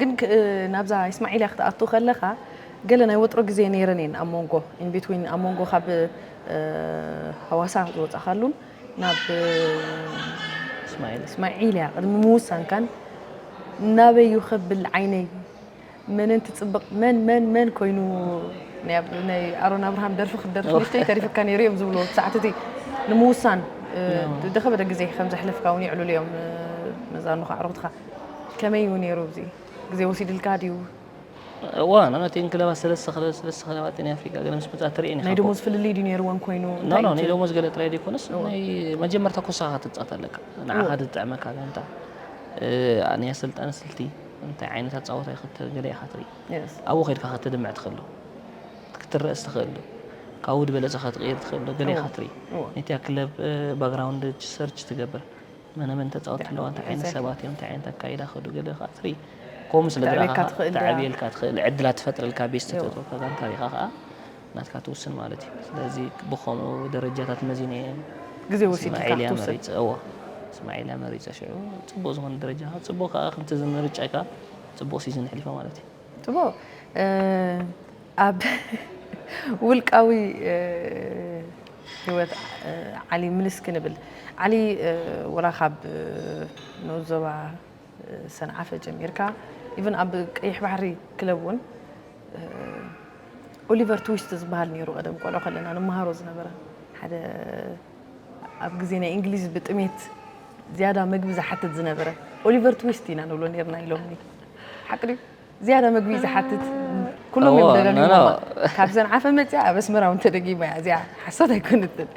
ግን ናብዛ ኢስማዒልያ ክትኣቱ ከለኻ ገለ ናይ ወጥሮ ግዜ ነይረን እየን ኣብ መንጎ ኢንቤትዊን ኣብ መንጎ ካብ ሃዋሳ ዝወፃኻሉን ናብ ኢስማዒልያ ቅድሚ ምውሳንካን ናበይ ይኸብል ዓይነይ መነን ትጽብቅ መን መን መን ኮይኑ ናይ ኣሮን ኣብርሃም ደርፊ ክትደርፊ ንእሽተይ ተሪፍካ ነይሩ እዮም ዝብልዎ እቲ ሰዓት እቲ ንምውሳን ደኸበደ ግዜ ከም ዘሕለፍካ እውን ይዕልሉ እዮም መዛኑኻ ኣዕሩኽትኻ ከመይ እዩ ነይሩ እዚ ግዜ ወሲድልካ ድዩ ዋን ኣቲን ክለባት ሰለስተ ሰለስተ ክለባት ናይ ኣፍሪቃ ገለ ምስ መጻ ትርኢ ናይ ደሞዝ ፍልልይ ድዩ ነይርወን ኮይኑ ናይ ደሞዝ ገለ ጥራይ ዘይኮነስ ናይ መጀመርታ ኮሳኻ ትጻወት ኣለካ ንዓኻ ዝጥዕመካ ጋንታ ናይ ኣሰልጣኒ ስልቲ እንታይ ዓይነት ኣጻወታይ ክትገለ ኢኻ ትርኢ ኣብኡ ከድካ ክትድምዕ ትኽእል ዶ ክትረእ ስትኽእል ዶ ካብኡ ዝበለጸ ከትቕይር ትኽእል ዶ ገለ ኢኻ ትርኢ ነቲያ ክለብ ባግራውንድ ሰርች ትገብር መነመን ተጻወቲ ኣለዋ እንታይ ዓይነት ሰባት እዮም እንታይ ዓይነት ኣካይዳ ከዱ ገለ ኸዓ ትርኢ ከምኡ ስለ ዝረኣኻ ተዕብየልካ ትኽእል ዕድላት ትፈጥረልካ ቤት ዝተተወካ ጋንታ ሪኻ ኸዓ ናትካ ትውስን ማለት እዩ ስለዚ ብከምኡ ደረጃታት መዚነ እየ ግዜ ወሲድካ እስማዒልያ ክትውስን መሪፀ እዎ እስማዒልያ መሪፀ ሽዑ ፅቡቅ ዝኮነ ደረጃ ካብ ፅቡቅ ከዓ ከምቲ እዚ ምርጫይካ ፅቡቅ ሲዝን ኣሕሊፈ ማለት እዩ ጽቡቕ እ፣ ኣብ ውልቃዊ እ፣ ህይወት እ፣ ዓሊ ምልስ ክንብል ዓሊ እ፣ ወላ ካብ እ፣ ንኡስ ዞባ እ፣ ሰንዓፈ ጀሚርካ ኢቭን ኣብ ቀይሕ ባሕሪ ክለብ እውን ኦሊቨር ትዊስት ዝበሃል ነይሩ ቀደም ቆልዑ ከለና ንመሃሮ ዝነበረ ሓደ ኣብ ግዜ ናይ እንግሊዝ ብጥሜት ዝያዳ መግቢ ዝሓትት ዝነበረ ኦሊቨር ትዊስት ኢና ንብሎ ነርና ኢሎም ሓቂ ድዩ ዝያዳ መግቢ ዝሓትት ኩሎም እዮም ደጋጊሞ ካብ ሰንዓፈ መፅያ ኣብ ኣስመራ እውን ተደጊማ እያ እዚኣ ሓሶት ኣይኮነትን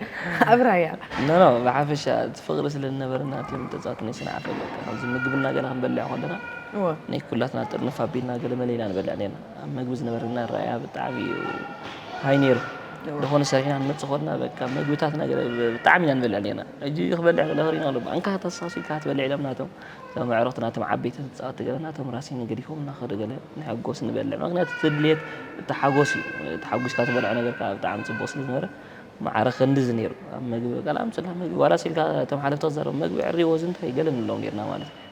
ኣብ ራያ ኖ ብሓፈሻ እቲ ፍቕሪ ስለ ዝነበረና እቲ ተፃወትኒ ሰንዓፈ ከምዚ ምግብና ገና ክንበልዕ ከለና እወ። ናይ ኩላትና ጥርንፍ ኣቢልና ገለመለ ኢና ንበልዕ ኔርና። ኣብ መግቢ ዝነበረና ኣረኣእያ ብጣዕሚ እዩ ሃይ ኔሩ። ደኾን ሰሪሕና ንመጽእ ኮንና በቃ መግብታትና ገለ ብጣዕሚ ኢና ንበልዕ ኔርና። ሕጂ ክበልዕ ከለኹ ሪኢና ኣሎ ኣንካ ተሳሲልካ ክትበልዕ ኢሎም ናቶም እቶም ኣዕሩኽቲ ናቶም ዓበይቲ ተጻወቲ ገለ ናቶም ራሲን ገዲፎምና ከዱ ገለ ንሕጎስ ንበልዕ ምኽንያቱ እቲ ድሌት እቲ ሓጎስ እዩ ተሓጒስካ ትበልዖ ነገር ከኣ ብጣዕሚ ጽቡቕ ስለ ዝነበረ ማዕረ ክንድዚ ኔሩ ኣብ መግቢ በቃ ኣምጽልና መግቢ ዋላስ ኢልካ እቶም ሓለፍቲ ክዛረቡ መግቢ ዕርይዎ እዚ እንታይ ገለ ንብሎም ኔርና ማለት እዩ።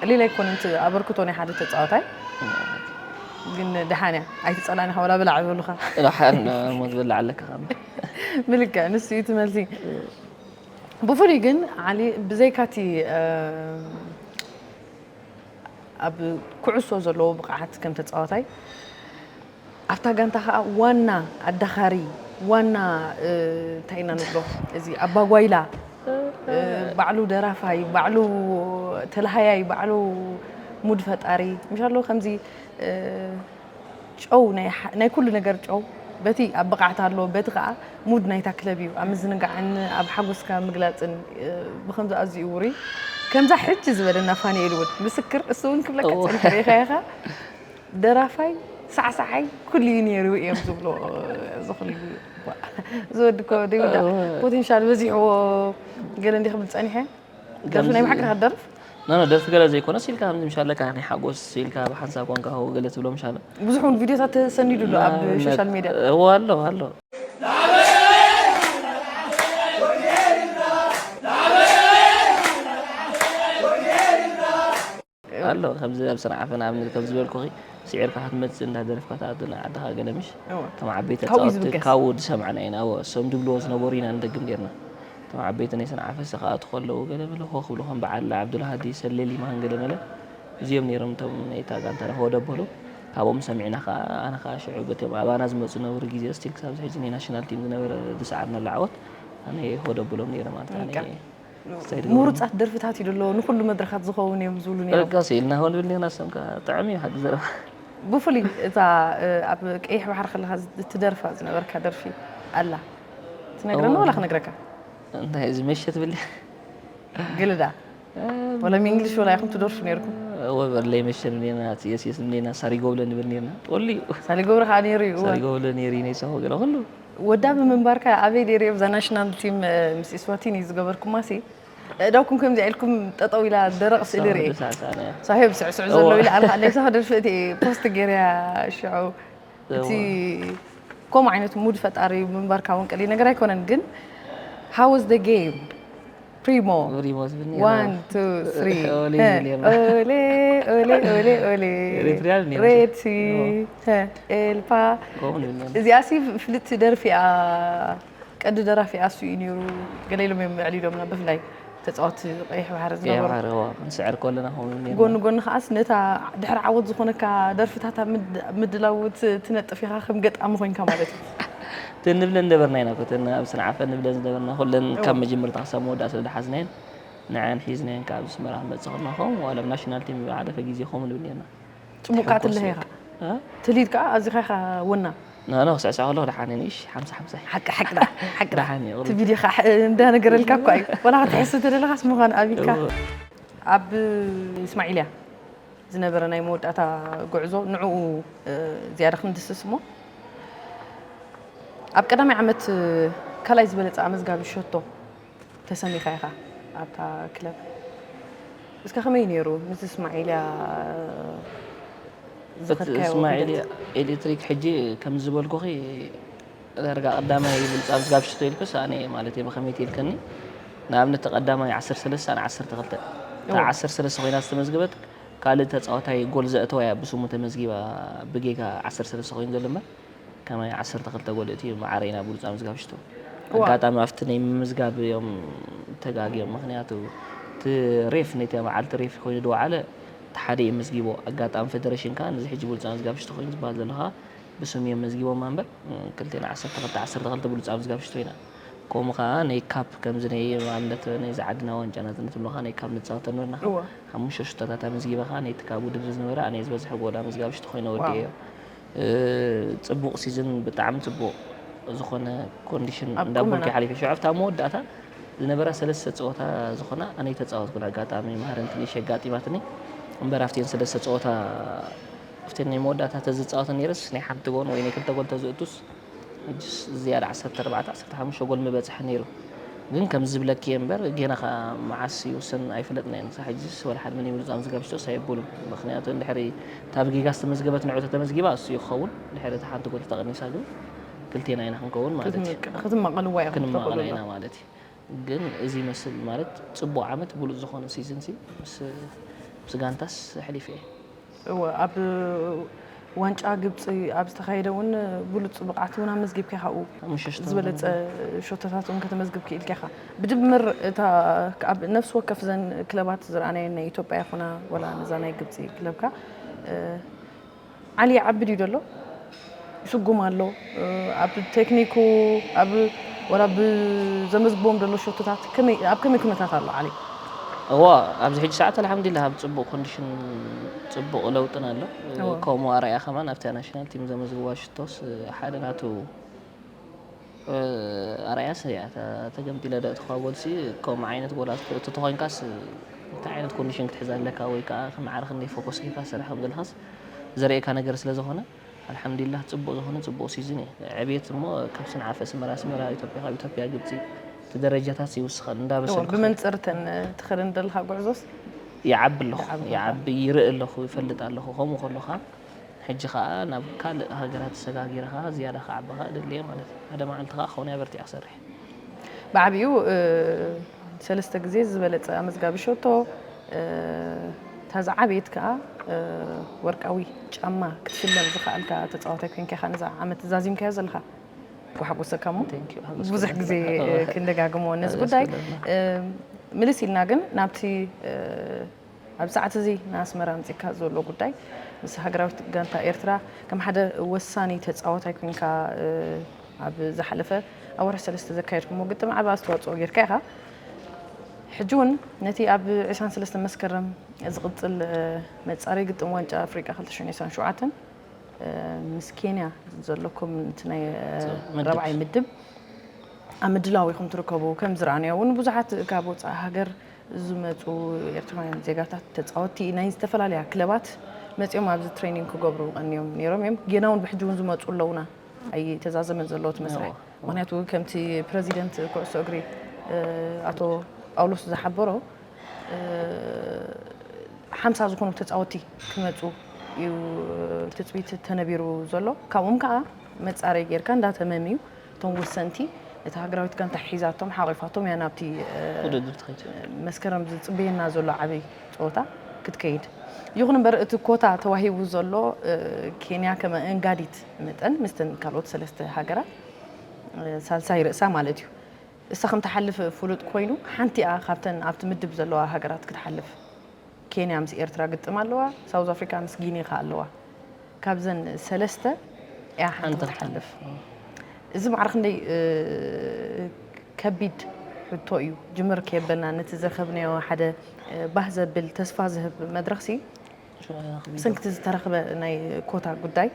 ቀሊል ኣይኮነን እቲ ኣበርክቶ ናይ ሓደ ተጻዋታይ ግን ደሓን እያ ኣይትጸላን ኢኻ ወላ ብላዕ ይበሉኻ ዳሓን ሞት ብላዕ ኣለካ ካብ ብልክዕ ንሱ እዩ እቲ መልሲ ብፍሉይ ግን ዓሊ ብዘይካ እቲ ኣብ ኩዕሶ ዘለዎ ብቕዓት ከም ተጻዋታይ ኣብታ ጋንታ ከኣ ዋና ኣዳኻሪ ዋና እንታይ ኢና ንብሎ እዚ ኣባጓይላ ባዕሉ ደራፋይ ባዕሉ ተላሃያይ ባዕሉ ሙድ ፈጣሪ ምሻሎ ከምዚ ጨው ናይ ኩሉ ነገር ጨው በቲ ኣብ ብቕዓት ኣሎ በቲ ከዓ ሙድ ናይታ ክለብ እዩ ኣብ ምዝንጋዕን ኣብ ሓጎስካ ምግላፅን ብከምዚ ኣዝዩ ውሩይ ከምዛ ሕጂ ዝበለና ፋንኤል እውን ምስክር እሱ እውን ክብለካ ፀኒሐ ሪኢኻይኻ ደራፋይ ሳዕሳዓይ ኩሉ እዩ ነይሩ እዮም ዝብሎ እዚ ኩሉ ዝወዲ እኮ ዘይውዳእ ፖቴንሻል በዚሕዎ ገለ እንዲ ክብል ፀኒሐ ደርፊ ናይ ብሓቂ ክደርፍ ኖ ኖ ደርፊ ገለ ዘይኮነ ሲልካ ከምዚ ምሻለካ ናይ ሓጎስ ሲልካ ብሓንሳብ ኮንካ ሆ ገለ ትብሎ ምሻለ ብዙሕ እውን ቪድዮታት ተሰኒዱ ኣሎ ኣብ ሶሻል ሜድያ እዎ ኣሎ ኣሎ ኣሎ ከምዚ ኣብ ስራሕ ዓፈና ኣብነት ከም ዝበልኩኺ ስዒርካ ክትመጽእ እንዳ ደረፍካ ትኣቱ ንዓድኻ ገለ ምሽ እወ። እቶም ዓበይቲ ካብኡ እዩ ተጻወትቲ ዝብገስ። ካብኡ ዝሰማዕና ኢና እወ እሶም ድብልዎ ዝነበሩ ኢና ንደግም ጌርና እቶም ዓበይቲ ናይ ሰንዓ ፈስት ክኣትዉ ከለዉ ገለ በለ ኾኽ ክብሉ ከም በዓል ዓብዱልሃዲ ሰሌ ሊማን ገለ መለ እዚኦም ኔሮም እቶም ናይታ ጋንታ ረኽቦ ደበሎ ካብኦም ሰሚዕና ከኣ ኣነ ከኣ ሽዑ በቶም ኣባና ዝመጹ ዝነበሩ ግዜ ስቲል ክሳብ ዝሕጂ ናይ ናሽናል ቲም ዝነበረ ዝሰዓርናሉ ዓወት ኣነ ሆደብሎም ኔረ ማለት ኣነ እየ። ምሩጻት ደርፍታት እዩ ደሎ ንኩሉ መድረኻት ዝኸውን እዮም ዝብሉ ነይሮም ደቃ ስኢልና ሆን ብልና ሰም ከዓ ጥዕም እዩ ሓዲ ዘረባ ብፍሉይ እዛ ኣብ ቀይሕ ባሕሪ ከለካ እትደርፋ ዝነበርካ ደርፊ ኣላ ትነግረና ወላ ክነግረካ እንታይ እዚ መሸት ብሊ ግልዳ ወላ እንግሊሽ ወላ ይኹም ትደርፉ ነርኩም ወበርለይ መሸን ኔና የስየስ ኔና ሳሪጎብለ ንብል ኔና ጦልዩ ሳሪጎብለ ከዓ ነይሩ እዩ ሳሪጎብለ ነይሩ ነይሳ ገለ ኩሉ ወዳቢ ምንባርካ ኣበይ ነይረ እዛ ናሽናል ቲም ምስ ኢስዋቲኒ ዝገበርኩማሲ ኣእዳውኩም ከምዚኣ ኢልኩም ጠጠው ኢላ ደረቕ ስእሊ ርኤ ሳሄብ ስዕስዕ ዘሎ ኢለ ኣነ ኣለይሳ ክደርፍእቲ ፖስት ገይረያ ሽዑ እቲ ከምኡ ዓይነት ሙድ ፈጣሪ ምንባርካ እውን ቀሊል ነገር ኣይኮነን ግን ሃወዝ ደ ጌም ፕሪሞ ሪሞ ዝብል ነይሩ። ዋን ቱ ስሪ ኦሌ ሀ፣ ዝብል ነይሩ። ኦሌ ኦሌ ኦሌ ኦሌ ኤሪትሪያ ነይሩ። ሬቲ ሀ፣ ኤልፓ ከምኡ ንብል ነይሩ። እዚኣ ሲ ፍልቲ ደርፊ እያ ቀንዲ ደራፊ ኣሱ እዩ ነይሩ ገለ ኢሎም እዮም ኣዕሊሎምና ብፍላይ ተፃወቲ ቀይሕ ባሕሪ ቀይሕ ዝነበሩ ባሕሪ እዋ፣ ክንስዕር ከለና ከምኡ ንብል ነይርና። ጎኒ ጎኒ ከዓስ ነታ ድሕሪ ዓወት ዝኾነካ ደርፍታት ኣብ ምድ- ምድላው ት- ትነጥፍ ኢኻ ከም ገጣሚ ኮይንካ ማለት እዩ እተን ንብለን ዝነበርና ኢና እተን ኣብ ሰንዓፈ ንብለን ዝነበርና ኩለን ካብ መጀመርታ ክሳብ መወዳእታ ስለ ዝሓዝናየን ንዐኣን ሒዝናየን ካብ ኣስመራ ክንመጽእ ከለና ከምኡ ዋላ ብ ናሽናል ቲም ዝሓለፈ ግዜ ከምኡ ንብል ኔርና ጽቡቅ ከኣ ትልሀ ኢኻ ትልሂት ከኣ ኣዚኻ ኢኻ ወና ናና ክስዕስዕ ከለኹ ደሓን እየ ንእሽ ሓምሳ ሓምሳ እዩ ሓቂ ሓቂ ደኣ ሓቂ ደኣ ደሓን እዩ እቲ ቕርብ ቪድዮ ከዓ እንዳነገረልካ እኳ እዩ ወላ ክትሕሱ ተደለኻስ ምዃን ኣብልካ ኣብ እስማዒልያ ዝነበረ ናይ መወዳእታ ጉዕዞ ንዕኡ ዝያዳ ክንድስስ እሞ ኣብ ቀዳማይ ዓመት ካልኣይ ዝበለፀ ኣመዝጋቢ ሸቶ ተሰሚኻ ኢኻ ኣብታ ክለብ እስከ ከመይ ነይሩ ምስ እስማዒልያ እስማዒልያ ኤሌክትሪክ ሕጂ ከም ዝበልኩኺ ዳርጋ ቀዳማይ ይብልጽ ኣብ ዝጋብ ሽቶ ኢልክስ ኣነ እየ ማለት እየ ብኸመይቲ ኢልክኒ ንኣብነት ተቀዳማይ ዓሰርተ ሰለስተ ኣነ ዓሰርተ ክልተ እታ እወ ዓሰርተ ሰለስተ ኮይና ዝተመዝገበት ካልእ ተጻዋታይ ጎል ዘእተዋ እያ ብስሙ ተመዝጊባ ብጌጋ ዓሰርተ ሰለስተ ኮይኑ ዘሎ እምበር ከማይ ዓሰርተ ክልተ ጎል እትዩ መዓረይ ናብ ብሉጽ ኣብ ዝጋብ ሽቶ እወ ኣጋጣሚ ኣብቲ ናይ ምምዝጋብ እዮም ተጋግዮም ምክንያቱ እቲ ሬፍ ነቲ መዓልቲ ሬፍ ኮይኑ ድወዓለ እቲ ሓደ እዩ መዝጊቦ ኣጋጣሚ ፈደረሽን ከኣ ነዚ ሕጂ ብሉጽ ኣብ ዝጋብ ሽቶ ኮይኑ ዝበሃል ዘሎ ከኣ ብስም እዮም መዝጊቦማ እምበር ክልቴና ዓሰርተ ክልተ ዓሰርተ ክልተ ብሉጽ ኣብ ዝጋብ ሽቶ ኢና ከምኡ ከኣ ነይ ካፕ ከምዚ ነይ ኣብነት ነይ ዝዓድና ዋንጫ ናጽነት ብሎ ከኣ ነይ ካብ ንጻወተ ነበርና ከኣ ሓሙሽተ ሽቶታት ኣመዝጊበ ከኣ ነይቲ ካብ ውድድር እዚ ዝነበረ ኣነ ዝበዝሐ ጎል ኣመዝጋቢ ሽቶ ኮይነ ወዲኤዮ ጽቡቕ ሲዝን ብጣዕሚ ጽቡቕ ዝኾነ ኮንዲሽን እንዳ ቡልኪ ሓሊፈ ሽዑ ኣብታ መወዳእታ ዝነበራ ሰለስተ ጸወታ ዝኾና ኣነ ተጻወትኩን ኣጋጣሚ ማህረንትንሽ ኣጋጢማትኒ እምበር ኣብቲን ሰለስተ ጸወታ ኣብቲ ናይ መወዳእታ ተዝጻወት ነይረስ ናይ ሓንቲ ጎን ወይ ናይ ክልተ ጎን ተዝእቱስ ሕጅስ ዝያዳ ዓሰርተ ኣርባዕተ ዓሰርተ ሓሙሽተ ጎል ምበጽሐ ነይሩ ግን ከምዚ ዝብለኪ እየ እምበር ጌና ከኣ መዓስ ይውሰን ኣይፈለጥናዮን ክሳዕ ሕጅስ ወላ ሓደ መን ይምርጾ ኣምዚ ጋብሽቶስ ኣየብሉን ምኽንያቱ እንድሕሪ እታ ብጌጋ ዝተመዝገበት ንዑ ተተመዝጊባ እሱ እዩ ክኸውን እንድሕሪ እታ ሓንቲ ጎል ተተቐኒሳ ግን ክልቴና ኢና ክንከውን ማለት እዩ ክትማቐልዋ ኢኹም ክትማቐላ ኢና ማለት እዩ ግን እዚ ይመስል ማለት ጽቡቅ ዓመት ብሉጽ ዝኮነ ሲዝን ሲ ምስ ጋንታስ ኣሕሊፈ እየ። እወ ኣብ ዋንጫ ግብጺ ኣብ ዝተካየደ ውን ብሉጽ ብቅዓት ውን ኣመዝጊብካ ኢካ ኣብኡ ዝበለጸ ሸቶታት ውን ከተመዝግብ ኪኢልካ ኢካ ብድምር እታ ኣብ ነፍሲ ወከፍ እዘን ክለባት ዝረኣናየን ናይ ኢትዮጵያ ይኩና ወላ ነዛ ናይ ግብጺ ክለብካ ዓሊ ይዓቢ ድዩ ደሎ ይስጉም ኣሎ ኣብ ቴክኒኩ ኣብ ወላ ብዘመዝግቦም ደሎ ሾቶታት ከመይ ኣብ ከመይ ኩነታት ኣሎ ዓሊ? እዋ ኣብዚ ሕጂ ሰዓት ኣልሓምዱሊላህ ኣብ ጽቡቕ ኮንዲሽን ጽቡቕ ለውጥን ኣሎ ከምኡ ኣርኣያ ከማን ኣብታ ናሽናል ቲም ዘመዝግባ ሽቶስ ሓደ ናቱ ኣርኣያ ሰሪዓ ተገምጢለ ዶ እትካ ጎልሲ ከምኡ ዓይነት ጎል ኣተእቱ ተኮይንካስ እንታይ ዓይነት ኮንዲሽን ክትሕዝ ኣለካ ወይ ከዓ ክምዓረ ክንደይ ፎኮስ ጌርካ ትሰርሕ ከም ዘለካስ ዘርእየካ ነገር ስለ ዝኮነ ኣልሓምዲላህ ጽቡቅ ዝኮነ ጽቡቅ ሲዝን እዩ ዕብየት እሞ ካብ ስንዓፈ ኣስመራ ኣስመራ ኢትዮጵያ ካብ ኢትዮጵያ ግብጺ እቲ ደረጃታት ይውስከል እንዳበሰልካ ብመንጽር እተን ትኸደን ዘለካ ጉዕዞስ ይዓቢ ኣለኹ ይዓቢ ይርኢ ኣለኹ ይፈልጥ ኣለኹ ከምኡ ከለካ ሕጂ ከኣ ናብ ካልእ ሃገራት ሰጋጊርኻ ዝያዳ ክዓብኻ እደሊ'የ ማለት እዩ። ሓደ መዓልቲ ከኣ ክኾነይ ኣበርቲዐ ክሰርሕ እየ። ብዓቢኡ ሰለስተ ግዜ ዝበለጸ ኣመዝጋቢ ሸቶ፣ እታ ዝዓበየት ከኣ ወርቃዊ ጫማ ክትሽለም ዝኸኣልካ ተጻዋታይ ኮንካ ኢኻ ነዛ ዓመት ዛዚምካዮ ዘለኻ። ክሕጉሰካ'ሞ ብዙሕ ግዜ ክንደጋግሞ ነዚ ጉዳይ። ምልስ ኢልና ግን ናብቲ ኣብዚ ሰዓት እዚ ንኣስመራ ኣምጺእካ ዘሎ ጉዳይ ምስ ሃገራዊት ጋንታ ኤርትራ ከም ሓደ ወሳኒ ተጻዋታይ ኮንካ ኣብ ዝሓለፈ ኣብ ወርሒ ሰለስተ ዘካየድኩሞ ግጥም ዓቢ ኣስተዋጽኦ ጌርካ ኢኻ። ሕጂ እውን ነቲ ኣብ ዕስራን ሰለስተን መስከረም ዝቕጽል መጻረይ ግጥም ዋንጫ ኣፍሪቃ ክልተ ሽሕን ዕስራን ሸውዓተን ምስ ኬንያ ዘለኩም እቲ ናይ ራብዓይ ምድብ ኣብ ምድላው ኢኹም ትርከቡ ከም ዝረኣናዮ እውን ብዙሓት ካብ ወጻኢ ሃገር ዝመፁ ኤርትራውያን ዜጋታት ተፃወቲ ናይ ዝተፈላለያ ክለባት መፂኦም ኣብዚ ትሬኒንግ ክገብሩ ቀንዮም ነይሮም እዮም ጌና እውን ብሕጂ እውን ዝመፁ ኣለውና ኣይተዛዘመን ዘለዎ እቲ መስርሕ ምክንያቱ ከምቲ ፕረዚደንት ኩዕሶ እግሪ ኣቶ ጳውሎስ ዝሓበሮ ሓምሳ ዝኾኑ ተፃወቲ ክመፁ እዩ ትፅቢት ተነቢሩ ዘሎ ካብኦም ከዓ መፃረይ ጌርካ እንዳተመም እዩ እቶም ወሰንቲ እታ ሃገራዊት ጋንታ ሒዛቶም ሓቒፋቶም እያ ናብቲ መስከረም ዝፅበየና ዘሎ ዓብይ ፀወታ ክትከይድ። ይኹን እምበር እቲ ኮታ ተዋሂቡ ዘሎ ኬንያ ከመ እንጋዲት መጠን ምስተን ካልኦት ሰለስተ ሃገራት ሳልሳይ ርእሳ ማለት እዩ እሳ ከምትሓልፍ ፍሉጥ ኮይኑ ሓንቲኣ ካብተን ኣብቲ ምድብ ዘለዋ ሃገራት ክትሓልፍ ኬንያ ምስ ኤርትራ ግጥም ኣለዋ ሳውዝ ኣፍሪካ ምስ ጊኒ ከኣ ኣለዋ ካብዘን ሰለስተ እያ ሓንቲ ክትሓልፍ እዚ ማዕረ ክንደይ ከቢድ ሕቶ እዩ ጅምር ከየበልና ነቲ ዝረኸብናዮ ሓደ ባህ ዘብል ተስፋ ዝህብ መድረኽ ሲ ብሰንክቲ ዝተረኽበ ናይ ኮታ ጉዳይ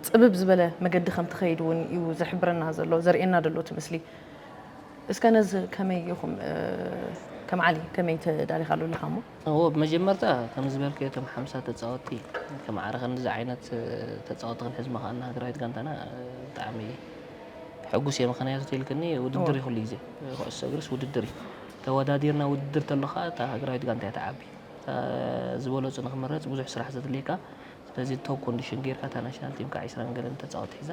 ፅብብ ዝበለ መገዲ ከም ትኸይድ እውን እዩ ዝሕብረና ዘሎ ዘርእየና ዘሎ እቲ ምስሊ እስከ ነዚ ከመይ ኢኹም ከም ዓሊ ከመይ ተዳሊኻሉ ኣለኻ እሞ? እዎ ብመጀመርታ ከምዚ ዝበልክዮ እቶም ሓምሳ ተጻወቲ ከም ዓረ ክንድዚ ዓይነት ተጻወቲ ክንሕዝ ምኽኣልና ሃገራዊት ጋንታና ብጣዕሚ ሕጉስ እየ ምኽንያቱ ተልክኒ ውድድር እዩ ኩሉ ግዜ ኩዕሶ እግርስ ውድድር እዩ ተወዳዲርና ውድድር ተሎ ከኣ እታ ሃገራዊት ጋንታ እያ ትዓቢ እታ ዝበለጹ ንኽምረጽ ብዙሕ ስራሕ ዘድልየካ ስለዚ ቶብ ኮንዲሽን ጌርካ እታ ናሽናል ቲምካ ዕስራን ገለን ተጻወቲ ሒዛ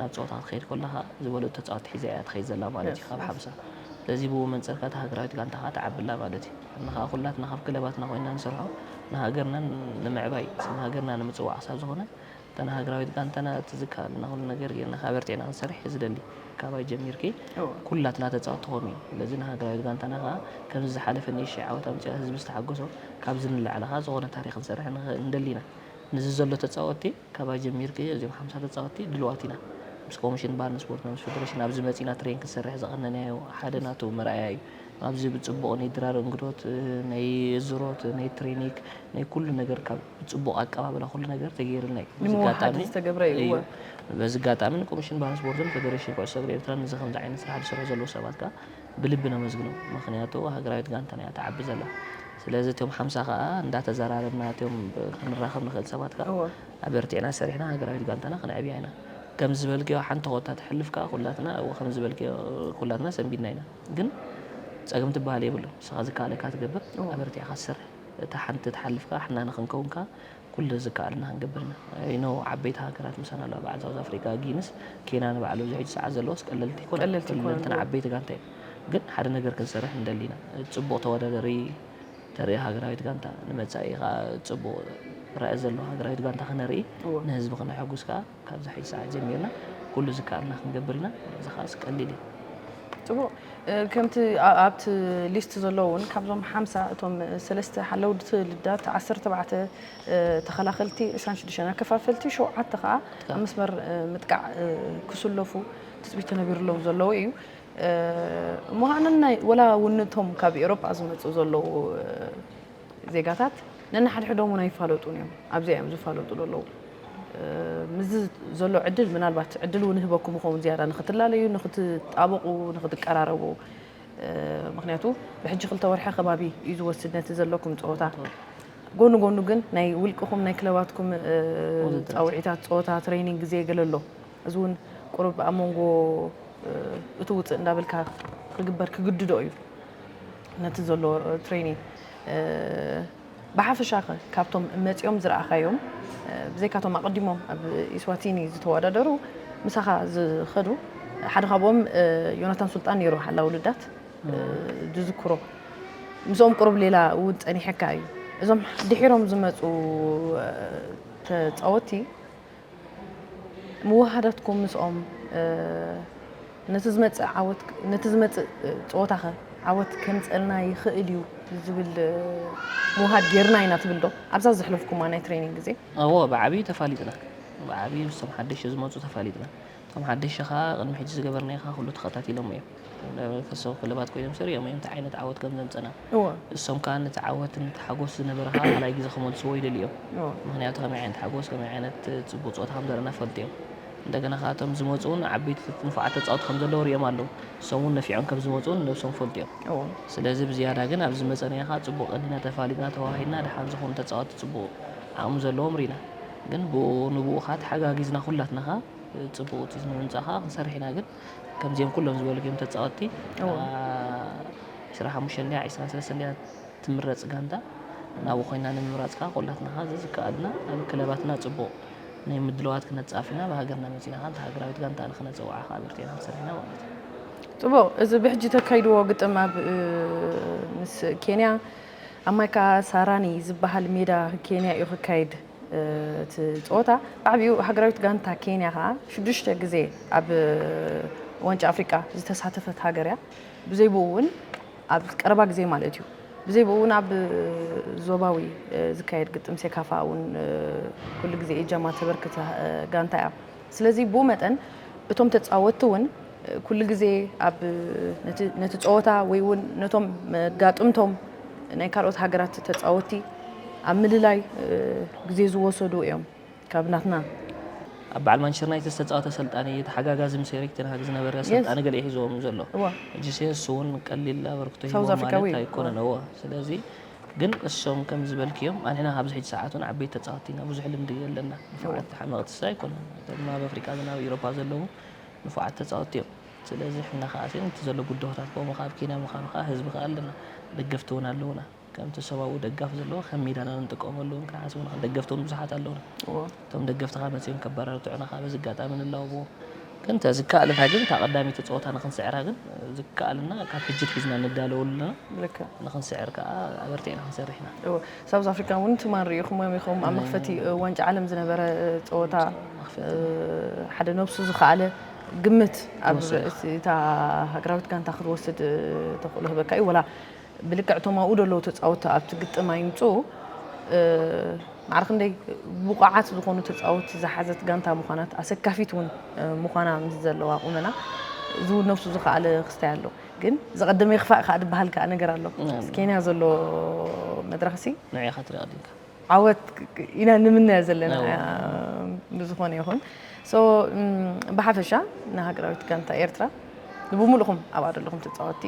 ናብ ጸወታ ክትኸይድ ኮለኻ ዝበለጹ ተጻወቲ ሒዛ እያ ትኸይድ ዘላ ማለት እዩ ካብ ሓምሳ ስለዚ ብኡ መንጽር ከኣ እታ ሃገራዊት ጋንታ ከኣ ትዓቢ ኣላ ማለት እዩ ኣና ከኣ ኩላትና ካብ ክለባትና ኮይንና ንሰርሖ ንሃገርና ንምዕባይ ስም ሃገርና ንምጽዋዕ ክሳብ ዝኾነ እታ ናይ ሃገራዊት ጋንታና እቲ ዝከኣለና ኩሉ ነገር ጌርና ከኣ ኣበርቲዕና ክንሰርሕ እየ ዝደሊ ካባይ ጀሚርኪ ኩላትና ተጻወቲ ክኾኑ እዩ ስለዚ ንሃገራዊት ጋንታና ከኣ ከምዚ ዝሓለፈ ንእሽተይ ዓወት ኣምጺኣ ህዝቢ ዝተሓጎሶ ካብዚ ንላዕሊ ከኣ ዝኾነ ታሪኽ ክንሰርሕ ንኽእል ንደሊ ኢና። ምስዚ ዘሎ ተጻወትቲ ካባይ ጀሚርኪ እዚኦም ሓምሳ ተጻወትቲ ድልዋት ኢና። ምስ ኮምሽን ባህልን ስፖርትን ምስ ፈደረሽን ኣብዚ መጺና ትሬን ክንሰርሕ ዝቐነናዮ ሓደ ናቱ መርኣያ እዩ። ኣብዚ ብጽቡቕ ነይ ድራር እንግዶት ነይ እዝሮት ነይ ትሬኒክ ነይ ኩሉ ነገር ካብ ብጽቡቕ ኣቀባብላ ኩሉ ነገር ተገይርልና እዩ። በዚ ኣጋጣሚ እዩ በዚ ኣጋጣሚ ንኮምሽን ባህልን ስፖርትን ፈደረሽን ኩዕሶ እግሪ ኤርትራን እዚ ከምዚ ዓይነት ስራሕ ዝሰርሑ ዘለዉ ሰባት ከኣ ብልቢ ነመስግኖም ምኽንያቱ ሃገራዊት ጋንታና እያ ትዓቢ ዘላ ስለዚ እቶም ሓምሳ ከኣ እንዳተዘራረብና እቶም ክንራኸብ ንኽእል ሰባት ከኣ እወ ኣበርቲዕና ሰሪሕና ሃገራዊት ጋንታና ክነዕብያ ኢና ከምዚ ዝበልክዮ ሓንቲ ኮታ ትሕልፍ ከኣ ኩላትና እወ ከምዚ ዝበልክዮ ኩላትና ሰንቢድና ኢና ግን ጸገም ትበሃል የብሉን ንስኻ ዝከኣለካ ትገብር ኣበርቲዕካ ትሰርሕ እታ ሓንቲ ትሓልፍ ከኣ ሕና ንኽንከውን ከኣ ኩሉ ዝከኣለና ክንገብር ኢና I know ዓበይቲ ሃገራት ምሳና ኣለዋ በዓል ሳውዝ ኣፍሪቃ፣ ጊንስ፣ ኬንያ ንበዓል ኣብዚ ሕጂ ሰዓት ዘለዋስ ቀለልቲ ኣይኮናን ኩለንተን ዓበይቲ ጋንታ እየን ግን ሓደ ነገር ክንሰርሕ ንደሊ ኢና ጽቡቕ ተወዳዳሪ ተርኢ ሃገራዊት ጋንታ ንመጻኢ ከኣ ጽቡቕ ራኢ ዘለዋ ሃገራዊት ጋንታ ክነርኢ ንህዝቢ ክነሐጉስ ከኣ ካብዚ ሕጂ ሰዓት ጀሚርና ኩሉ ዝከኣልና ክንገብር ኢና፣ እዚ ከኣ ቀሊል እዩ። ጽቡቕ ከምቲ ኣብቲ ሊስት ዘሎ እውን ካብዞም ሓምሳ እቶም ሰለስተ ሓለውቲ ልዳት ዓሰርተ ኣርባዕተ ተኸላኸልቲ ዕስራን ሽዱሽተን ኣከፋፈልቲ ሸውዓተ ከኣ ኣብ መስመር ምጥቃዕ ክስለፉ ትጽቢት ተነቢርሎም ዘለዉ እዩ እሞ ከኣ ነናይ ወላ እውን እቶም ካብ ኤሮጳ ዝመጹ ዘለዉ ዜጋታት ነንሓድሕዶም ውን ኣይፋለጡን እዮም ኣብዚኣ እዮም ዝፋለጡ ዘለዉ ምስዚ ዘሎ ዕድል ምናልባት ዕድል ውን ህበኩም ይኸውን ዝያዳ ንክትላለዩ ንክትጣበቑ ንክትቀራረቡ ምክንያቱ ብሕጂ ክልተ ወርሒ ከባቢ እዩ ዝወስድ ነቲ ዘለኩም ፀወታ ጎኑ ጎኑ ግን ናይ ውልቅኹም ናይ ክለባትኩም ፃውዒታት ፀወታ ትሬኒንግ ግዜ ገለ ኣሎ እዚ እውን ቁርብ ኣብ መንጎ እቲ ውፅእ እንዳበልካ ክግበር ክግድዶ እዩ ነቲ ዘሎ ትሬኒን ብሓፈሻኸ ካብቶም መፂኦም ዝረኣኻዮም ብዘይካቶም ኣቐዲሞም ኣብ ኢስዋቲኒ ዝተወዳደሩ ምሳኻ ዝኸዱ ሓደ ካብኦም ዮናታን ሱልጣን ነይሩ ሓላ ውልዳት ዝዝክሮ ምስኦም ቅሩብ ሌላ እውን ፀኒሐካ እዩ እዞም ድሒሮም ዝመፁ ተፃወቲ ምውህሃዳትኩም ምስኦም ነቲ ዝመጽእ ጸወታኸ ዓወት ከምጸልና ይኽእል እዩ ዝብል ምውሃድ ጌርና ኢና ትብልዶ ኣብዛ ዘሕለፍኩማ ናይ ትሬኒንግ ግዜ? እወ ብዓብዩ ተፋሊጥና ብዓብዩ ምስቶም ሓደሽቲ ዝመጹ ተፋሊጥና እቶም ሓደሽቲ ከኣ ቅድሚ ሕጂ ዝገበርናዮኻ ኩሉ ተኸታቲሎሞ እዮም። ናይ መንፈሳዊ ክለባት ኮይኖም ሰሪዖም እዮም እንታይ ዓይነት ዓወት ከም ዘምጸና። እሶም ከኣ ነቲ ዓወት ነቲ ሓጎስ ዝነበረ ከኣ ካልኣይ ግዜ ክመልስዎ ይደልዩ እዮም። ምኽንያቱ ከመይ ዓይነት ሓጎስ ከመይ ዓይነት ጽቡቕ ጸወታ ከም ዘርኣና ይፈልጡ እዮም። እንደገና ከኣ እቶም ዝመጹ እውን ዓበይቲ ንፉዓት ተጻወቲ ከም ዘለዉ ሪኦም ኣለዉ። እሶም እውን ነፊዖም ከም ዝመጹ እውን ነብሶም ይፈልጡ እዮም። ስለዚ ብዝያዳ ግን ኣብዚ ዝመጸናዮ ከኣ ጽቡቕ ቀኒና ተፋሊጥና ተወሃሂድና ደሓን ዝኾኑ ተጻወቲ ጽቡቕ ዓቕሚ ዘለዎም ሪኢና። ግን ብኡ ንብኡ ከኣ ተሓጋጊዝና ኩላትና ከኣ ጽቡቅ ውጺት ንምምጻእ ከኣ ክንሰርሕ ኢና ግን ከምዚኦም ኩሎም ዝበልክዮም ተጻወቲ ዕስራ ሓሙሽተ እንድያ ዕስራን ሰለስተ እንድያ ትምረጽ ጋንታ ናብኡ ኮይና ንምምራጽ ከኣ ኩላትና ከኣ ዘዝከኣልና ኣብ ክለባትና ጽቡቅ ናይ ምድልዋት ክነጻፍ ኢና ብሃገርና መጺና ከኣ ሃገራዊት ጋንታ ንክነጸውዓ ከኣ ኣበርቲዕና ክንሰርሕ ኢና ማለት እዩ ጽቡቅ እዚ ብሕጂ ተካይድዎ ግጥም ኣብ ምስ ኬንያ ኣብ ማይ ካሳራኒ ዝበሃል ሜዳ ኬንያ እዩ ክካየድ እቲ ፀወታ። ብዓብይኡ ሃገራዊት ጋንታ ኬንያ ከዓ ሽዱሽተ ግዜ ኣብ ዋንጫ ኣፍሪቃ ዝተሳተፈት ሃገር እያ። ብዘይ ብኡ እውን ኣብ ቀረባ ግዜ ማለት እዩ ብዘይ ብኡ እውን ኣብ ዞባዊ ዝካየድ ግጥም ሴካፋ እውን ኩሉ ግዜ እጃማ ተበርክት ጋንታ እያ። ስለዚ ብኡ መጠን እቶም ተጻወትቲ እውን ኩሉ ግዜ ኣብ ነቲ ጸወታ ወይ እውን ነቶም መጋጥምቶም ናይ ካልኦት ሃገራት ተጻወትቲ ኣብ ምልላይ ግዜ ዝወሰዱ እዮም ካብ ናትና። ኣብ በዓል ማንቸስተር ዩናይትድ ዝተጻወተ ኣሰልጣኒ እዩ፣ ተሓጋጋዚ ምስ ኤሪክ ተን ሃግ ዝነበረ ኣሰልጣኒ ገለ እዩ ሒዝዎም ዘሎ። ጂሰየስ እውን ቀሊል ኣበርክቶ ሂብዎም ማለት ኣይኮነን። እወ። ስለዚ ግን እሶም ከም ዝበልክዮም ኣንሕና ካብዚ ሕጂ ሰዓት ውን ዓበይቲ ተጻወቲ ኢና ብዙሕ ልምዲ የለና ንፉዓት ሓመቅቲ ስለ ኣይኮነን እቶም ኣብ ኣፍሪቃ ግን ኣብ ኢሮፓ ዘለዉ ንፉዓት ተጻወቲ እዮም ስለዚ ሕና ከኣ ሲ ንቲ ዘሎ ጉደሆታት ኮሙ ከኣ ኣብ ኬንያ ምካኑ ከኣ ህዝቢ ከኣ ኣለና ደገፍቲ ውን ኣለዉና ከምቲ እሶም ኣብኡ ደጋፊ ዘለዉ ከም ሜዳና ንጥቀመሉ ውን ክንሓስብ ንክእል ደገፍቲ ውን ብዙሓት ኣለዉና። እቶም ደገፍትኻ መጺኦም ከባራርቱዑና ከኣ በዚ ኣጋጣሚ ንላወቦም። ግን እንተ ዝከኣለና ግን እታ ቀዳመይቲ ጸወታ ንክንስዕራ ግን ዝከኣለና ካብ ሕጂ ኣትሒዝና ንዳለወሉ ኣለና። ንክንስዕር ከኣ ኣበርቲዕና ክንሰርሕ ኢና። እወ ሳውዝ ኣፍሪካ እውን ትማል ሪኢኹሞም ኢኹም ኣብ መኽፈቲ ዋንጫ ዓለም ዝነበረ ጸወታ ሓደ ነብሱ ዝኸኣለ ግምት ኣብ እታ ሃገራዊት ጋንታ ክትወስድ ተኽእሎ ህበካ እዩ ወላ ብልክዕ እቶም ኣብኡ ዘለዉ ተጻወትቲ ኣብቲ ግጥም ኣይምጽኡ ማዕረ ክንደይ ብቑዓት ዝኾኑ ተጻወትቲ ዝሓዘት ጋንታ ምዃናት ኣሰካፊት እውን ምዃና ምስ ዘለዋ ቁመና እዚ እውን ነብሱ ዝኸኣለ ክስታይ ኣሎ ግን ዘቐደመ ይኽፋእ ከዓ ዝበሃል ከዓ ነገር ኣሎ ኬንያ ዘሎ መድረኽ ሲ ንዕኻ ትሪኦ ድንካ ዓወት ኢና ንምነ ዘለና ብዝኾነ ይኹን ብሓፈሻ ንሃገራዊት ጋንታ ኤርትራ ንብምሉኹም ኣብ ኣደለኹም ተፃወቲ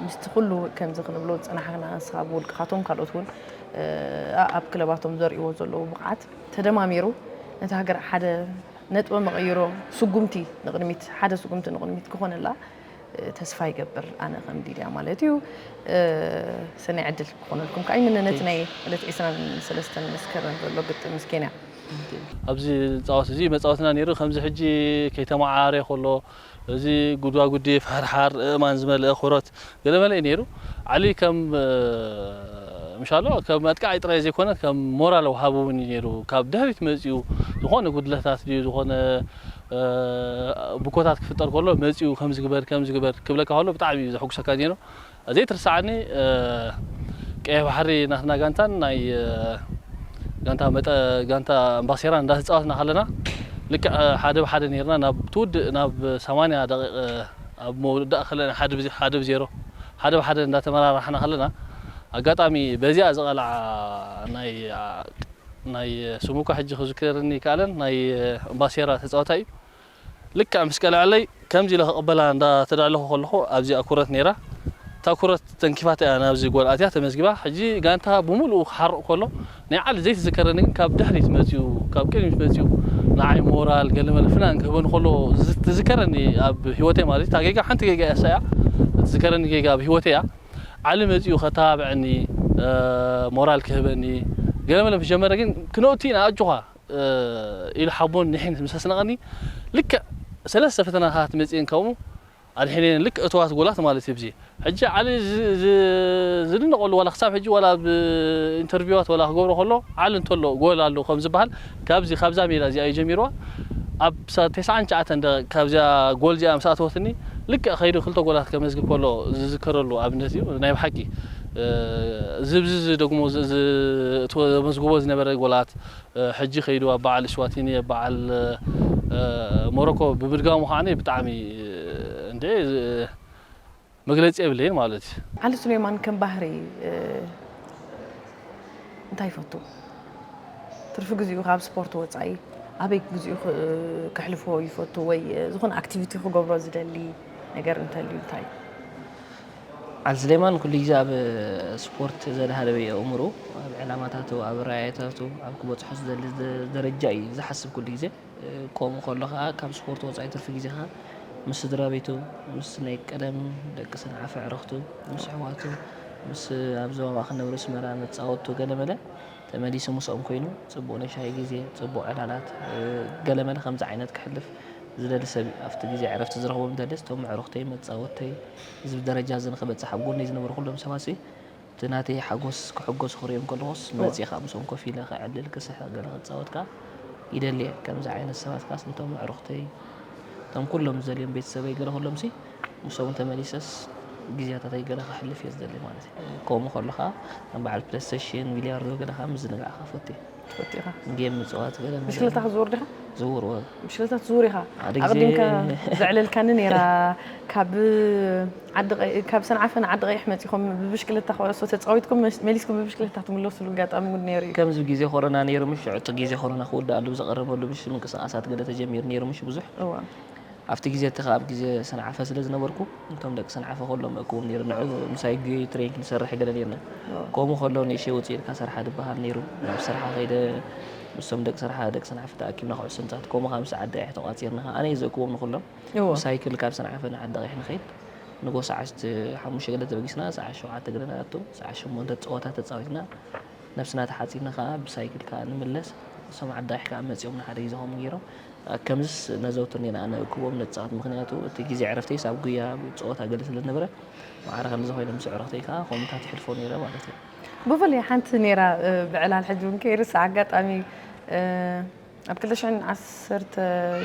ምስቲ ኩሉ ከምዚ ክንብሎ ዝፀናሕና ንስኻ ብውልቅኻቶም ካልኦት እውን ኣብ ክለባቶም ዘርእዎ ዘለዉ ብቕዓት ተደማሚሩ ነቲ ሃገር ሓደ ነጥበ መቐይሮ ስጉምቲ ንቕድሚት ሓደ ስጉምቲ ንቕድሚት ክኾነላ ተስፋ ይገብር ኣነ ከም ዲልያ ማለት እዩ ሰናይ ዕድል ክኾነልኩም ከዓ ይምነ ነቲ ናይ ዕለት 23 መስከረም ዘሎ ግጥም ምስ ኬንያ ኣብዚ ዝፃወት እዚ መፃወትና ነይሩ ከምዚ ሕጂ ከይተመዓራረየ ከሎ እዚ ጉድዋጉዲ ፍሕርሓር እእማን ዝመልአ ኩረት ገለመለ እዩ ነይሩ ዓሊ ከም ምሻሎ ከም ኣጥቃዓይ ጥራይ ዘይኮነ ከም ሞራል ወሃቢ እውን እዩ ነይሩ ካብ ድሕሪት መፂኡ ዝኾነ ጉድለታት ድዩ ዝኾነ ብኮታት ክፍጠር ከሎ መጺኡ ከምዚ ግበር ከምዚ ግበር ክብለካ ከሎ ብጣዕሚ እዩ ዘሕጉሰካ ዜኑ ዘይትርሰዓኒ ቀይሕ ባሕሪ ናትና ጋንታን ናይ ጋንታ መጠ ጋንታ ኣምባሴራን እንዳተጻወትና ከለና ልክዕ ሓደ ብሓደ ነርና ናብ ትውድእ ናብ 80 ደቂቕ ኣብ መውዳእ ከለና ሓደ ብዜሮ ሓደ ብሓደ እንዳተመራራሕና ከለና ኣጋጣሚ በዚኣ ዝቐልዓ ናይ ናይ ስሙ እኳ ሕጂ ክዝከረኒ ኣይከኣለን ናይ ባሴራ ተጻዋታይ እዩ ልክዕ ምስ ቀለዐለይ ከምዚ ኢለ ክቅበላ እንዳ ተዳለኹ ከለኹ ኣብዚኣ ኩረት ኔራ እታ ኩረት ተንኪፋታ እያ ናብዚ ጎል ኣትያ ተመዝጊባ ሕጂ ጋንታ ብምልኡ ክሓርቅ ከሎ ናይ ዓሊ ዘይትዝከረኒ ግን ካብ ድሕሪት መጺኡ ካብ ቅድሚት መጺኡ ንዓይ ሞራል ገለመለ ፍናን ክህበኒ ከሎ ትዝከረኒ ኣብ ሂወተይ ማለት እታ ጌጋ ሓንቲ ጌጋ እያ እሳ እያ ትዝከረኒ ጌጋ ኣብ ሂወተይ እያ ዓሊ መጺኡ ከተባብዐኒ ሞራል ክህበኒ ገለ መለ ምስ ጀመረ ግን ክነኡቲ ኢና ኣጆኻ ኢሉ ሓቦን ኒሕን ምስ ኣስነቐኒ ልክዕ ሰለስተ ፈተናታት መጺኤን ከምኡ ኣድሒነን ልክዕ እቶዋት ጎላት ማለት እዩ ብዚ ሕጂ ዓሊ ዝድነቐሉ ዋላ ክሳብ ሕጂ ዋላ ኣብ ኢንተርቪዋት ዋላ ክገብሮ ከሎ ዓሊ እንተሎ ጎል ኣሎ ከም ዝበሃል ካብዚ ካብዛ ሜዳ እዚኣ እዩ ጀሚርዋ ኣብ ተስዓን ትሽዓተን ደቂቅ ካብዚኣ ጎል እዚኣ ምስ ኣተወትኒ ልክዕ ከይዱ ክልተ ጎላት ከመዝግብ ከሎ ዝዝከረሉ ኣብነት እዩ ናይ ብሓቂ ዝብዝዝ ደግሞ ዘመዝግቦ ዝነበረ ጎላት ሕጂ ከይዱ ኣብ በዓል እስዋቲኒ ኣብ በዓል ሞሮኮ ብምድጋሙ ከዓኒ ብጣዕሚ እንዴ መግለጺ የብለይን ማለት እዩ። ዓሊ ሱሌማን ከም ባህሪ እንታይ ይፈቱ? ትርፊ ግዚኡ ካብ ስፖርት ወጻኢ ኣበይ ግዚኡ ከሕልፎ ይፈቱ ወይ ዝኾነ ኣክቲቪቲ ክገብሮ ዝደሊ ነገር እንተልዩ እንታይ እዩ? ዓሊ ሱሌማን ኩሉ ግዜ ኣብ ስፖርት ዘድሃለበ እዩ ኣእምርኡ። ኣብ ዕላማታቱ፣ ኣብ ራእይታቱ፣ ኣብ ክበጽሖ ዝደሊ ደረጃ እዩ ዝሓስብ ኩሉ ግዜ። ከምኡ ከሎ ከኣ ካብ ስፖርት ወጻኢ ትርፊ ግዜኻ ምስ ስድራቤቱ፣ ምስ ናይ ቀደም ደቂ ሰንዓፈ ኣዕርኽቱ፣ ምስ ኣሕዋቱ፣ ምስ ኣብ ዞባ ማእከል ነብሪ ኣስመራ መጻወትቱ ገለ መለ ተመሊሱ ምስኦም ኮይኑ ጽቡቕ ናይ ሻሂ ግዜ፣ ጽቡቕ ዕላላት ገለ መለ ከምዚ ዓይነት ከሕልፍ ዝደሊ ሰብ እዩ። ኣብቲ ግዜ ዕረፍቲ ዝረኽቦም ደለስ እቶም ኣዕሩኽተይ፣ መጻወትተይ እዚ ደረጃ እዚ ንኽበጽሕ ኣብ ጎነይ ዝነበሩ ኩሎም ሰባትሲ፣ እቲ ናተይ ሓጎስ ክሕጎሱ ክሪኦም ከለኩስ መጺካ ምስኦም ኮፍ ኢለ ከዕልል ክስሕቅ ገለ ክጻወት ከኣ ይደሊ እየ ከምዚ ዓይነት ሰባት ከኣስ ነቶም ኣዕሩክተይ እቶም ኩሎም ዝደልዮም ቤተሰበይ ገለ ኩሎምሲ ምስኦም ተመሊሰስ ግዝያታተይ ገለ ከሕልፍ እየ ዝደሊ ማለት እዩ ከምኡ ከሎ ከኣ ከም በዓል ፕለስተሽን ቢልያርዶ ገለ ከኣ ምዝንጋዕ ከኣ እፈቱ እየ። ትፈቱ ኢኻ ጌም ምፅዋት ገለ ብሽክለታ ክትዝውር ዲኻ ዝውር ወ ብሽክለታ ትዝውር ኢኻ ኣቕዲምካ ዘዕለልካኒ ነይራ ካብ ካብ ሰንዓፈ ንዓዲ ቀይሕ መፂኹም ብብሽክለታ ክዕሶ ተፃዊትኩም መሊስኩም ብብሽክለታ ትምለስሉ ኣጋጣሚ እውን ነይሩ እዩ ከምዚ ግዜ ኮሮና ነይሩ ምሽ ዕጡ ግዜ ኮሮና ክውዳእ ኣሉ ዝቐረበሉ ምሽ ምንቅስቃሳት ገለ ተጀሚሩ ነይሩ ምሽ ብዙሕ ኣብቲ ግዜ እቲ ከኣ ኣብ ግዜ ሰንዓፈ ስለ ዝነበርኩ እቶም ደቂ ሰንዓፈ ኩሎም እእክቦም ኔረ ንዑ ምሳይ ጊዮዩ ትሬን ክንሰርሕ ገለ ኔርና ኮሙ ከሎ ንእሽተይ ውጽእ ኢልካ ሰርሓ ድበሃል ኔሩ ናብ ሰርሓ ከይደ ምስቶም ደቂ ሰርሓ ደቂ ሰንዓፈ ተኣኪብና ኩዕሶ ምጻት ኮሙ ከኣ ምስ ዓደቂሕ ተቋጺርና ከኣ ኣነ እየ ዘእክቦም ንኩሎም ብሳይክል ካብ ሰንዓፈ ንዓደቂሕ ንከይድ ንጎ ሰዓት ሓሙሽተ ገለ ተበጊስና ሰዓት ሸውዓተ ገለ ንኣቱ ሰዓት ሸሞንተ ጸወታ ተጻዊትና ነብስና ተሓጺብና ከኣ ብሳይክል ከኣ ንምለስ እሶም ዓዲ ቃይሕ ከኣ መጺኦም ንሓደ ይዘኸሙ ጌሮም ከምዝስ ነዘውትር ኔና ኣነ እኩቦም ነጻወት ምኽንያቱ እቲ ግዜ ዕረፍተይስ ኣብ ጉያ ኣብ ጸወታ ገለ ስለ ዝነበረ መዓረ ከምዚ ኮይነ ምስ ዕረፍተይ ከኣ ከምታት ይሕልፎ ኔረ ማለት እዩ ብፍላይ ሓንቲ ኔራ ብዕላል ሕጂ ውን ከይርስዓ ኣጋጣሚ ኣብ ክልተ ሽሕን ዓሰርተ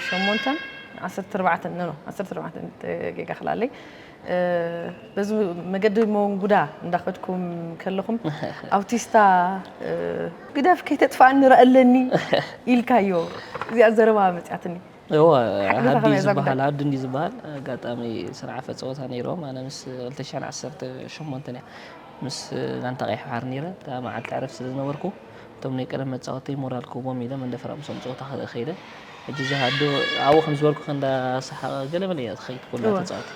ሸሞንተን ዓሰርተ ኣርባዕተን ኖ ኖ ዓሰርተ ኣርባዕተን ጌጋ ክላለይ በዚ መገዲ መንጉዳ እንዳኸድኩም ከለኹም ኣውቲስታ ግደፍ ከይተጥፋኣኒ ረኣለኒ ኢልካዮ እዚኣ ዘረባ መፅያትኒ እወ ሓዲ እዩ ዝበሃል ሓዲ እንዲ ዝበሃል ኣጋጣሚ ስራሕ ኣፈ ፀወታ ነይሮም ኣነ ምስ ክልተ ሽሕን ዓሰርተ ሸሞንተን እያ ምስ ጋንታ ቀይሕ ባሕሪ ነይረ እታ መዓልቲ ዕረፍቲ ስለ ዝነበርኩ እቶም ናይ ቀደም መጻወትተይ ሞራል ክህቦም ኢለ መንደፈራ ምሶም ጸወታ ክርኢ ከይደ ሕጂ እዛ ኣዶ ኣብኡ ከም ዝበልኩ እንዳሰሓቐ ገለ መለ እያ ትኸይድ ኩላ ተጻወቲ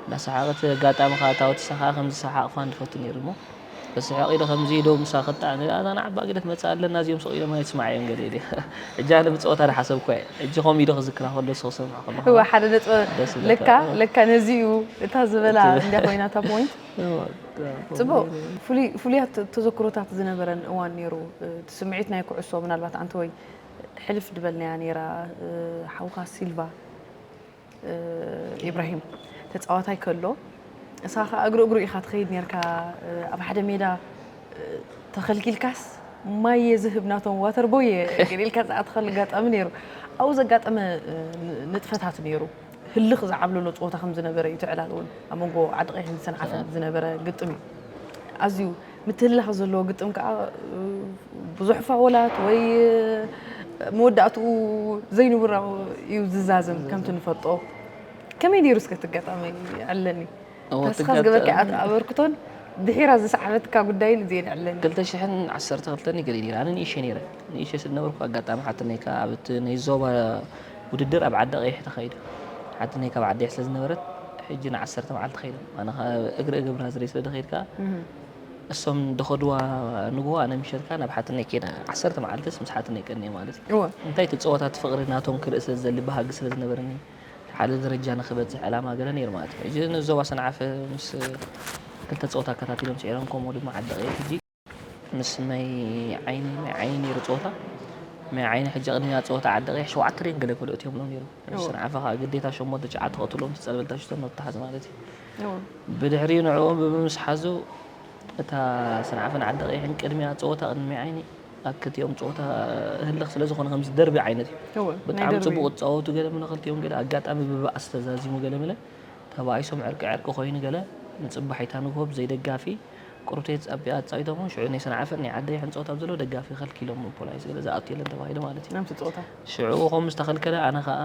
እንዳሰሓቐት ኣጋጣሚ ከኣ እታ ወቲሳ ከኣ ከምዚ ሰሓቕ ፋን ዝፈቱ ነይሩ እሞ ብስሕቕ ኢለ ከምዚ ዶ ምሳ ክጣዕ እዛ ንዓባ ግደት መጻ ኣለና እዚኦም ስቕ ኢሎም ኣይስማዓዮም ገለ ኢለ ሕጂ ኣነ ብጸወታ ዝሓሰብኩ እየ ሕጂ ከምኡ ኢሉ ክዝክራ ከሎ ንሱ ክሰምዕ ከሎ ሓደ ነጥቢ ለካ ለካ ነዚ እዩ እታ ዝበላ እንዳ ኮይና እታ ፖይንት ጽቡቅ ፍሉያት ተዘክሮታት ዝነበረን እዋን ነይሩ እቲ ስምዒት ናይ ኩዕሶ ምናልባት ኣንተወይ ሕልፍ ድበልናያ ነይራ ሓውካ ሲልቫ ኢብራሂም ተጻዋታይ ከሎ እሳ ከ እግሪ እግሩ ኢካ ትኸይድ ነርካ ኣብ ሓደ ሜዳ ተኸልኪልካስ ማይ እየ ዝህብ ናቶም ዋተርቦይ እየ ገሊልካ ዝኣተኸሉ ኣጋጣሚ ነይሩ ኣብኡ ዘጋጠመ ንጥፈታት ነይሩ ህልኽ ዝዓብለሎ ፀወታ ከም ዝነበረ እዩ፣ እቲ ዕላል እውን ኣብ መንጎ ዓዲ ቀይሕን ሰንዓፈን ዝነበረ ግጥም እዩ፣ ኣዝዩ ምትህልላኽ ዘለዎ ግጥም ከዓ ብዙሕ ፋወላት ወይ መወዳእትኡ ዘይንቡራዊ እዩ ዝዛዘም ከምቲ ንፈልጦ ከመይ ነይሩ እስከ እቲ ኣጋጣሚ የዕልለኒ። ተስፋ ዝገበርኪ ኣበርክቶን ድሒራ ዝሰዓበትካ ጉዳይን እዚኤን ዕለኒ። 2012 እዩ ገሊል ኣነ ንእሸ ነይረ ንእሸ ስለ ነበርኩ ኣጋጣሚ ሓትነይ ከዓ ኣብ እቲ ናይ ዞባ ውድድር ኣብ ዓዲ ቀይሕ ተኻይዱ ሓትነይ ካብ ዓዲ ስለ ዝነበረት ሕጂ ንዓሰርተ መዓልቲ ከይዶም ኣነ ከዓ እግሪ እገብራ ዝርኢ ስለ ደኸይድ ከዓ እሶም ደኸድዋ ንግሆ ኣነ ምሸት ከዓ ናብ ሓትነይ ከይደ ዓሰርተ መዓልትስ ምስ ሓትነይ ቀኒየ ማለት እዩ እንታይ እቲ ፀወታ እቲ ፍቕሪ ናቶም ክርኢ ስለ ዝደሊ ባህጊ ስለ ዝነበረኒ ሓደ ደረጃ ንክበጽሕ ዕላማ ገለ ነይሩ ማለት እዩ። ሕጂ ንዞባ ሰንዓፈ ምስ ክልተ ጸወታ ኣከታቲሎም ስዒሮም ከምኡ ድማ ዓዲ ቀይሕ ሕጂ ምስ ማይ ዓይኒ ማይ ዓይኒ ነይሩ ጸወታ ማይ ዓይኒ ሕጂ ቅድሚያ ጸወታ ዓዲ ቀይሕ ሸውዓተ ደን ገለ ኮሎ እትዮምሎም ነይሩ ሰንዓፈ ከዓ ግዴታ ሸሞንተ ሸዓተ ክቕትሎም ዝጸለበልታ ሽቶ ነተሓዝ ማለት እዩ ብድሕሪኡ ንዕኦም ብምምስሓዙ እታ ሰንዓፈን ዓዲ ቀይሕን ቅድሚያ ጸወታ ቅድሚ ማይ ዓይኒ ኣብ ክልቲኦም ጸወታ ህልኽ ስለ ዝኾነ ከምዚ ደርቢ ዓይነት እዩ እወ፣ ናይ ብጣዕሚ ደርቢ ጽቡቕ እዩ። ዝጻወቱ ገለ ምለ ክልቲኦም ገለ ኣጋጣሚ ብባእሲ ተዛዚሙ ገለ ምለ ተባኢሶም ዕርቂ ዕርቂ ኮይኑ ገለ ንጽባሒታ ንግሆ ብዘይ ደጋፊ ቁርብተይ ተጻቢ ኣጻዊቶሞ ሽዑ ናይ ሰንዓፈን ናይ ዓደይ ሕንጸወት ኣብ ዘለዎ ደጋፊ ከልኪሎሞ ፖላይስ ገለ ዝኣቱ የለን ተባሂሉ ማለት እዩ ናብቲ ጸወታ ሽዑ ከምዝተኸልከለ ኣነ ከኣ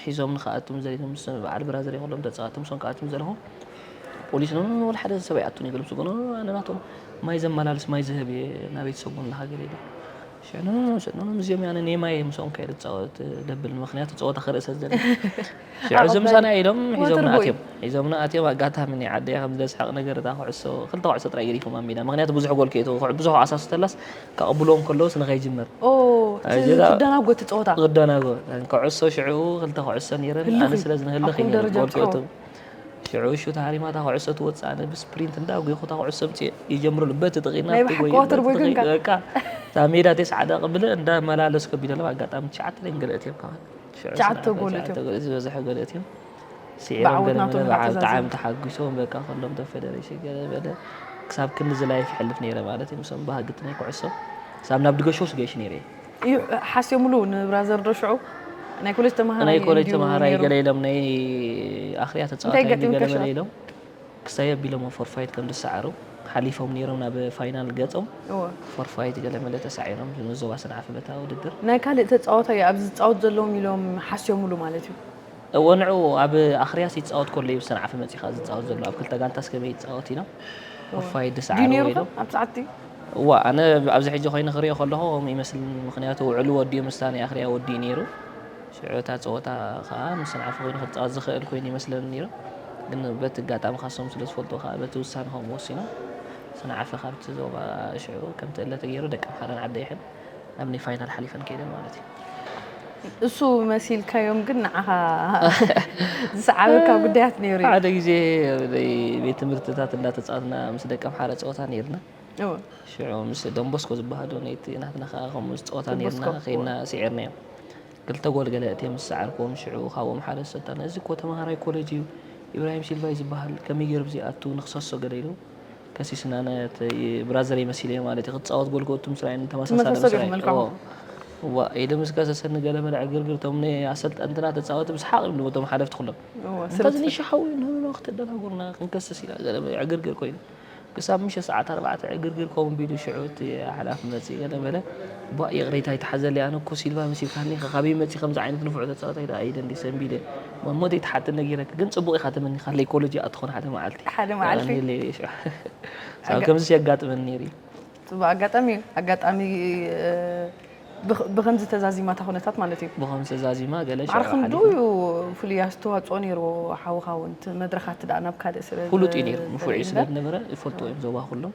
ሒዞም ንክኣቱን ዘሪቶም ምስ በዓል ብራዘር ኩሎም ተጻዋቶም ሶም ክኣቱን ዘለኹ ፖሊስ ኖ ወላ ሓደ ሰብ ኣይኣቱን እዩ ገሎም ስጎኖ ኣነ ናቶም ማይ ዘመላልስ ማይ ዝህብ እየ ናብ ቤተሰቡ ንሃገር እየ ሽዑ ኖ ኖ ሽዑ ኖ እዚኦም ኣነ ናይ ማይ ምስኦም ከይደ ጻወት ደብል ምክንያቱ ጸወታ ክርኢ ስለ ዘለኒ ሽዑ እዞም ምሳና ኢሎም ሒዞምና ኣትዮም ሒዞምና ኣትዮም ኣጋጣሚ ናይ ዓደይ ከም ዘስሕቕ ነገር እታ ኩዕሶ ክልተ ኩዕሶ ጥራይ ገዲፎም ኣብ ሜዳ ምክንያቱ ብዙሕ ጎል ከይቱ ብዙሕ ዓሳሱ ተላስ ከቕብሎም ከለውስ ንኸይጅምር ኦህ እቲ ክደናጎ እቲ ጸወታ ክደናጎ ክዕሶ ሽዕኡ ክልተ ክዕሶ ነይረን ኣነ ስለ ዝንህልኽ እዩ ነይረ ጎልኪ ሽዑ ሹት ሃሪማ እታ ኩዕሶ ትወፅእ ኣነ ብስፕሪንት እንዳ ጎይኹ እታ ኩዕሶ ምፅእ ይጀምረሉ በቲ ጥቂና በቃ እታ ሜዳ ተስዓ ደቂ ብለ እንዳ መላለስ ከቢደ ኣለዋ ኣጋጣሚ ትሽዓተ ደን ገለእት እዮም ካብኣን ሽዑ ትሽዓተ ጎል ዝበዝሐ ገለእት እዮም ስዒሮም ገለ በለ በዓል ጣዓም ተሓጉሶም በቃ ከሎም ቶም ፌደሬሽን ገለ በለ ክሳብ ክንድዚ ላይፍ ይሕልፍ ነይረ ማለት እዩ ምሶም ባህግቲ ናይ ኩዕሶ ክሳብ ናብ ድገሾ ስገሽ ነይረ እዩ ሓስዮምሉ ንብራዘር ዶ ሽዑ ናይ ኮሌጅ ተማሃራይ ናይ ኮሌጅ ተማሃራይ ገለ ኢሎም ናይ ኣኽርያ ተፃዋታይ ገለ በለ ኢሎም ክሳይ ኣቢሎም ፎርፋይት ከም ዝሰዓሩ ሓሊፎም ነይሮም ናብ ፋይናል ገፆም ፎርፋይት ገለ መለ ተሳዒሮም ንዞባ ሰንዓፈ በታ ውድድር ናይ ካልእ ተፃወታይ ኣብዚ ዝፃወት ዘለዎም ኢሎም ሓስዮምሉ ማለት እዩ እወ ንዑ ኣብ ኣኽርያስ ይጻወት ኮሎ እዩ ሰንዓፈ መጺኻ ዝጻወት ዘሎ ኣብ ክልተ ጋንታስ ከመይ ይጻወት ኢና ኡፋይ ድስዓሩ ወይ ዶ እዋ ኣነ ኣብዚ ሕጂ ኮይኑ ክሪኦ ከለኹ ከምኡ ይመስል ምኽንያቱ ውዕሉ ወዲኡ ምስታ ናይ ኣኽርያ ወዲኡ ነይሩ ሽዑ እታ ጸወታ ከኣ ምስ ሰንዓፈ ኮይኑ ክጻወት ዝኽእል ኮይኑ ይመስለኒ ነይሩ ግን በቲ ኣጋጣሚ ካሶም ስለ ዝፈልጡ ከኣ በቲ ውሳነ ከምኡ ወሲኖም ሰንዓፈ ካብቲ ዞባ ሽዑ ከምቲ እለ ተገይሩ ደቀምሓረን ዓደይሕን ናብ ናይ ፋይናል ሓሊፈን ከይደን ማለት እዩ እሱ መሲልካዮም ግን ንዓኻ ዝሰዓበካ ጉዳያት ነይሩ ሓደ ግዜ ቤት ትምህርትታት እንዳተፃወትና ምስ ደቂ ኣምሓረ ፀወታ ነይርና ሽዑ ምስ ደንቦስኮ ዝበሃሉ ናይቲ ናትና ከዓ ከምኡ ዝፀወታ ነይርና ከይድና ስዒርናዮም ክልተ ጎል ገለ እትዮም ዝሰዓርክዎም ሽዑ ካብኦም ሓደ ሰታና እዚ እኮ ተምሃራይ ኮሌጅ እዩ ኢብራሂም ሲልቫ እዩ ዝበሃል ከመይ ገይሩ ብዘይኣቱ ንክሰሶ ገለ ኢሉ ከሲስና ነተይ ብራዘረይ መሲለዮ ማለት እዩ ክትጻወት ጎል ክእቱ ምስ ራእየኒ ተመሳሳሊ ምስ ተመሳሰሉ ራእየ መልክዖም። እዎ እዋ ኢሉ ምስ ከሰሰኒ ገለ በለ ዕግርግር እቶም ናይ ኣሰልጠንትና ተጻወቲ ብሰሓቕ ኢሎም እቶም ሓለፍቲ ኩሎም እዎ እንተ እዚ ስለትፈ ንሻ ሓዊ ንህብና ከተደናጉርና ክንከስስ ኢና ገለ በለ ዕግርግር ኮይኑ ክሳብ ምሸት ሰዓት ኣርባዕተ ዕግርግር ከምኡ ቢሉ ሽዑ እቲ ሓላፊ መጺኡ ገለ በለ እባ ይቕሬታ ይትሓዘለይ ኣነ እኮ ሲልቫ መሲልካኒ ኢኻ ካበይ መጺ ከምዚ ዓይነት ንፉዕ ተጻዋታይ ደኣ ኢለ እንዲየ ሰንቢደ ማሞተይ ትሓቲ ነጊረኪ ግን ጽቡቅ ኢካ ተመኒካ ለይ ኮለጅ ይኣ ትኮን ሓደ መዓልቲ ሓደ መዓልቲ ተቀንየለይ ሽዑ ሳብ ከምዚ የጋጥመኒ ነይሩ እዩ ጽቡቅ ኣጋጣሚ እዩ ኣጋጣሚ ብከምዚ ተዛዚማ እታ ኩነታት ማለት እዩ ብከምዚ ተዛዚማ ገለ ሽዑ ዓርክን ዶ እዩ ፍሉይ ኣስተዋጽኦ ነይርዎ ሓውካ እውን መድረካት ደኣ ናብ ካልእ ስለ ፍሉጥ እዩ ነይሩ ንፉዕ እዩ ስለ ዝነበረ ይፈልጥዎ እዮም ዞባ ኩሎም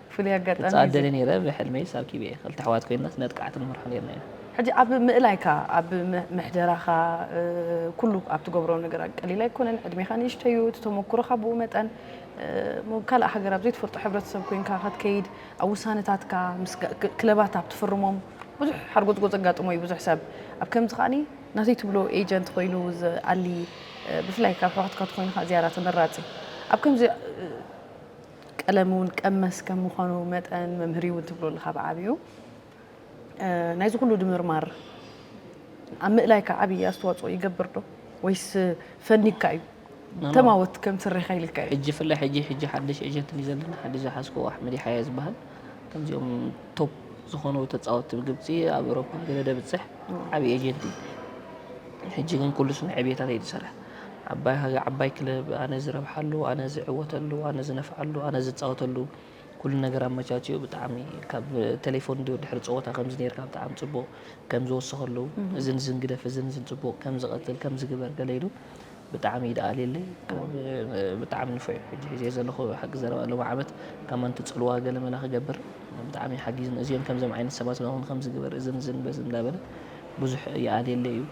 ፍሉይ ኣጋጣሚ እዩ ክጻወት እዚ። ደልየ ነይረ ብሕልመይስ ኣብ ኪቤ ክልተ ኣሕዋት ኮይንናስ ነጥቃዕቲ ንምርሖ ነይርና ኢና። ሕጂ ኣብ ምእላይካ ኣብ ምሕደራኻ ኩሉ ኣብ ትገብሮ ነገራት ቀሊል ኣይኮነን ዕድሜኻ ንእሽተይ እዩ እቲ ተመኩሮኻ ብኡ መጠን እሞ ካልእ ሃገር ኣብ ዘይትፈልጦ ሕብረተሰብ ኮይንካ ከትከይድ ኣብ ውሳነታትካ ምስ ክለባት ኣብ ትፍርሞም ብዙሕ ሓርጎጽጎጽ የጋጥሞ እዩ ብዙሕ ሰብ ኣብ ከምዚ ከኣ ናተይ ትብሎ ኤጀንት ኮይኑ ዝኣሊ ብፍላይ ካብ ኣሕዋትካ ትኮይንኻ ዝያዳ ተመራጺ ኣብ ከምዚ ቀለም እውን ቀመስ ከም ምዃኑ መጠን መምህር እውን ትብሎ ኣለኻ ብዓብዩ ናይዚ ኩሉ ድምርማር ኣብ ምእላይካ ዓብዪ ኣስተዋፅኦ ይገብር ዶ ወይስ ፈኒግካ እዩ ተማወት ከም ስሬኻ ኢልካ እዩ ሕጂ ፍላይ ሕጂ ሕጂ ሓድሽ ኤጀንት እዩ ዘለና ሓድሽ ዝሓዝክዎ ኣሕመድ ይሓያ ዝበሃል ከምዚኦም ቶፕ ዝኾኑ ተፃወቲ ብግብፂ ኣብ ኤሮፓ ገለ ደብፅሕ ዓብዪ ኤጀንት እዩ ሕጂ ግን ኩሉ ስነ ዕብየታት እዩ ዝሰርሕ ዓባይ ሃገ ዓባይ ክለብ ኣነ ዝረብሓሉ ኣነ ዝዕወተሉ ኣነ ዝነፍዓሉ ኣነ ዝጻወተሉ ኩሉ ነገር ኣመቻችኡ ብጣዕሚ ካብ ቴሌፎን ድዮ ድሕሪ ጸወታ ከምዚ ነርካ ብጣዕሚ ጽቡቅ ከም ዝወሰኸሉ እዚ ንዝን ግደፍ እዚ ንዝን ጽቡቅ ከም ዝቀጽል ከም ዝግበር ገለ ኢሉ ብጣዕሚ እዩ ደኣ ኣልየለይ ካብ ብጣዕሚ ንፉዕ እዩ ሕጂ ሒዘዮ ዘለኹ ሓቂ ዘረባ ሎሚ ዓመት ካብ ማንቲ ጽልዋ ገለ መለ ክገብር ብጣዕሚ እዩ ሓጊዙኒ እዚኦም ከምዞም ዓይነት ሰባት እውን ከምዚ ግበር እዝን እዝን በዚ እንዳበለ ብዙሕ ይኣልየለይ እዩ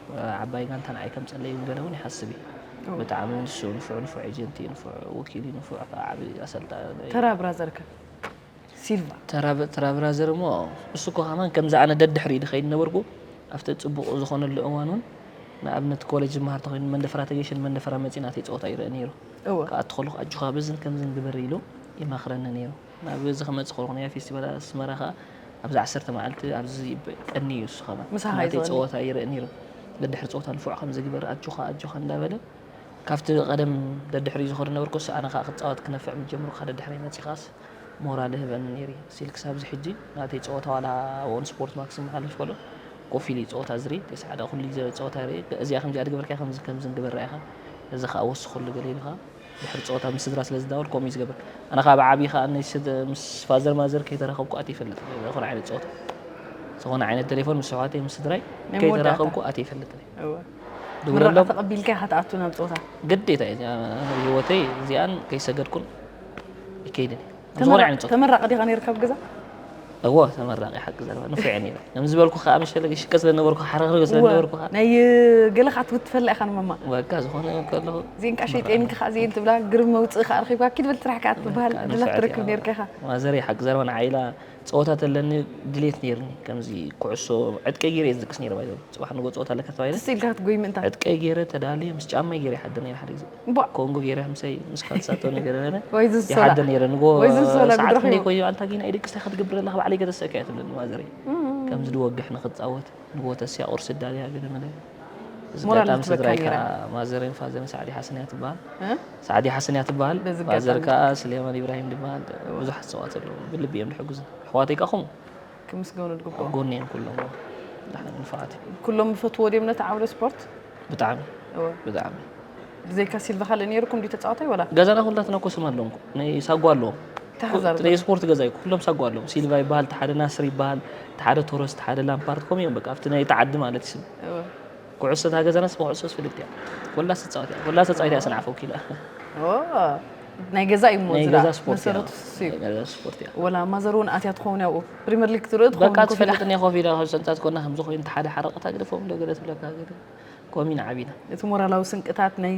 ዓባይ ጋንታ ንዓይ ከምጸለይ ውን ገለ ውን ይሓስብ እዩ ብጣዕሚ ውን ዝስኡ ንፉዕ ንፉዕ ኤጀንት እዩ ንፉዕ ወኪል እዩ ንፉዕ ከኣ ዓቢ ኣሰልጣኒ እዩ ተራ ብራዘር ከ ሲልቫ ተራ ብራዘር እሞ እሱ እኮ ከማን ከምዚ ኣነ ደድሕሪ ድኸይድ ነበርኩ ኣብቲ ጽቡቕ ዝኾነሉ እዋን ውን ንኣብነት ኮሌጅ ዝመሃር ተኾይኑ መንደፈራ ተገይሸ ንመንደፈራ መጺ ናተይ ጸወታ ይርኢ ነይሩ ክኣቱ ከለኹ ኣጆኻ በዝን ከምዝን ግበር ኢሉ ይመኽረኒ ነይሩ ናብዚ ክመጽእ ከለኹ ናይ ፌስቲቫል ኣስመራ ከኣ ኣብዚ ዓሰርተ መዓልቲ ኣብዚ ቀኒ እዩ እሱ ከማን ምሳኻ እዩ ናተይ ዝወኒ ጸወታ ይርእ ነይሩ ደድሕሪ ጸወታ ንፉዕ ከምዚ ግበር ኣጆኻ ኣጆኻ እንዳበለ ካብቲ ቀደም ደድሕሪኡ ዝኸዶ ዝነበርኩ እሱ ኣነ ከኣ ክጻወት ክነፍዕ ምስ ጀመርኩ ከኣ ደድሕረይ መጺኻስ ሞራል ይህበኒ ነይሩ እዩ ስቲል ክሳብ እዚ ሕጂ ናተይ ጸወታ ዋላ ኣብ ኦን ስፖርት ማክስ ክመሓለፍ ከሎ ኮፍ ኢሉ እዩ ጸወታ ዝርኢ ተስዓ ደኣ ኩሉ ግዜ ጸወታ ይርኢ እዚኣ ከምዚኣ ድገበርካያ ከምዚ ከምዚ ግበራ ኢኻ እዚ ከኣ ወስኸሉ ገለ ኢሉ ከኣ ድሕሪ ጸወታ ምስ ስድራ ስለ ዝዳወል ከምኡ እዩ ዝገብር ኣነ ከኣ ብዓቢ ከኣ ምስ ፋዘር ማዘር ከይተራኸብኩ ኣትየ ይፈልጥ ዝኾነ ዓይነት ጸወታ ዝኾነ ዓይነት ቴሌፎን ምስ ኣሕዋተይ ምስ ስድራይ ከይተራኸብኩ ኣትየ ይፈልጥ ድውለሎም ተቐቢልካ ኢኻ ትኣቱ ናብ ጸወታ ግዴታ እዩ ህይወተይ እዚኣን ከይሰገድኩን ይከይድን ተመራቂ ዲኻ ነርካ ኣብ ገዛ እዎ ተመራቂ ሓቂ ዘረባ ንፉዕ እየ ነይረ ከም ዝበልኩ ከዓ መሸለ ሽቀ ስለነበርኩ ሓረግርግ ስለነበርኩ ከዓ ናይ ገለ ከዓ ትውትፈላ ኢኻ ንመማ በቃ ዝኾነ ከለኹ እዚን ከዓ ሸይጤንኪ ከዓ እዚን ትብላ ግርም መውፅኢ ከዓ ረኺብካ ኪድ በል ስራሕ ከዓ ትበሃል ዕድላት ትረክብ ነርካ ኢኻ ማዘረይ ሓቂ ዘረባ ንዓይ ኢላ ፀወታ ተለኒ ድሌት ነይርኒ ከምዚ ኩዕሶ ዕጥቀይ ገይረ እየ ዝድቅስ ነይረ ባይዘ ፅባሕ ንጎ ፀወታ ኣለካ ተባሂለ ኢልካ ክትጎይ ምእንታ ዕጥቀይ ገይረ ተዳልየ ምስ ጫማይ ገይረ ይሓድር ነይረ ሓደ ግዜ እምቧእ ኮንጎ ገይረ ምሰይ ምስ ካልሳቶ ነገር ነረ ወይ ዝሶላ ይሓደ ነረ ንጎ ወይ ዝሶላ ሰዓት ብድረኺ ክንደይ ኮዮ ኣንታ ጊና ይደቅስ እንታይ ክትገብር ኣለኻ ባዕለይ ገተሰካ እያ ትብለኒ ማዘረይ ከምዚ ድወግሕ ንክትፃወት ንጎ ተስያ ቁርሲ ዳልያ ገለ መለ እዚ ሞራል ኣጋጣሚ ዝትበካ ስድራይ ነይራ። ከዓ ማዘረይን ፋዘርን ሳዕዲ ሓሰን እያ ትበሃል እ? ሳዕዲ ሓሰን እያ ትበሃል በዚ ኣጋጣሚ። ማዘር ከዓ ስሌማን ኢብራሂም ድበሃል ብዙሓት ሰባት ኣለዉ ብልቢ እዮም ድሕግዙ ኣሕዋተይ ከዓ ከምኡ ክምስገኑ ኣብ ዝግብኦም ጎኒ እዮም ኩሎም እዎ ብጣዕሚ ንፉዓት እዮም ኩሎም ይፈትዎ ድዮም ነቲ ዓውደ ስፖርት ብጣዕሚ እወ ብጣዕሚ ብዘይካ ሲልቫ ካልእ ነይሩኩም ድዩ ተጻዋታይ ወላ ገዛና ኩላትና እኮ ስም ኣለዎም እኮ ናይ ሳጓ ኣለዎም ተሓዛር እቲ ናይ ዘሎ ስፖርት ገዛ እዩ እኮ ኩሎም ሳጓ ኣለዎም ሲልቫ ይበሃል እቲ ሓደ ናስር ይበሃል እቲ ሓደ ቶረስ እቲ ሓደ ላምፓርድ ከምኡ እዮም በቃ ኣብቲ ናይቲ ዓዲ ማለት እዩ ስም እወ ኩዕሶ እታ ገዛናስ ብኩዕሶስ ፍልጥቲ እያ ኩላስ ትፃወት እያ ኩላ ተፃዊታ እያ ሰንዓፈ ወኪላ ናይ ገዛ እዩ እሞ ዝዳ መሰረቱ እዩ ወላ ማዘር እውን ኣትያ ትኸውን ያብኡ ፕሪምየር ሊግ ትርኢ በቃ ትፈልጥ እኒኣ ኮፍ ኢላ ካብ ሰንታት ኮና ከምዚ ኮይኑ እቲ ሓደ ሓረቐታ ግደፎም ዶ ገለ ትብለካ ኮሚና ዓቢና እቲ ሞራላዊ ስንቅታት ናይ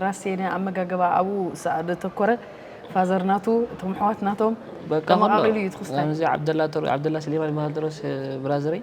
ራሴነ ኣመጋገባ ኣብኡ ዘተኮረ ፋዘር ናቱ እቶም ኣሕዋት ናቶም ተመቃቂሉ እዩ ትክስታይ ከምዚ ዓብደላ ዓብደላ ስሌማን ይበሃል ድሮስ ብራዘረይ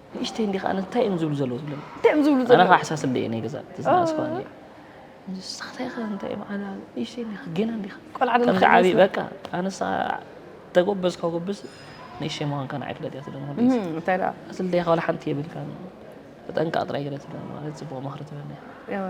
ንእሽተይ እንዲኻ ኣነ እንታይ እዮም ዝብሉ ዘለዉ ዝብሎም እንታይ እዮም ዝብሉ ዘለዉ ኣነ ኣሓሳስብ ደየ ናይ ገዛ ተዝናስኳ እንዲያ ንስኻ እንታይ ኢኻ እንታይ እዮም ኣነ ንእሽተይ እንዲኻ ገና እንዲኻ ቆልዓ ዶ ከምዚ ዓብዪ ንኸይመስል? በቃ ኣነሳ ተጎበዝ ከጎብዝ ንእሽተይ ምዃንካ ንዓይ ፍለጥ እያ ትብለኒ ወዲስ እም፣ እንታይ ደኣ ኣስሊ ደኻ ዋላ ሓንቲ የብልካን ተጠንቀቕ ጥራይ ገለ ትብለኒ ማለት ፅቡቕ ምኽሪ ትበኒ እያ እወ።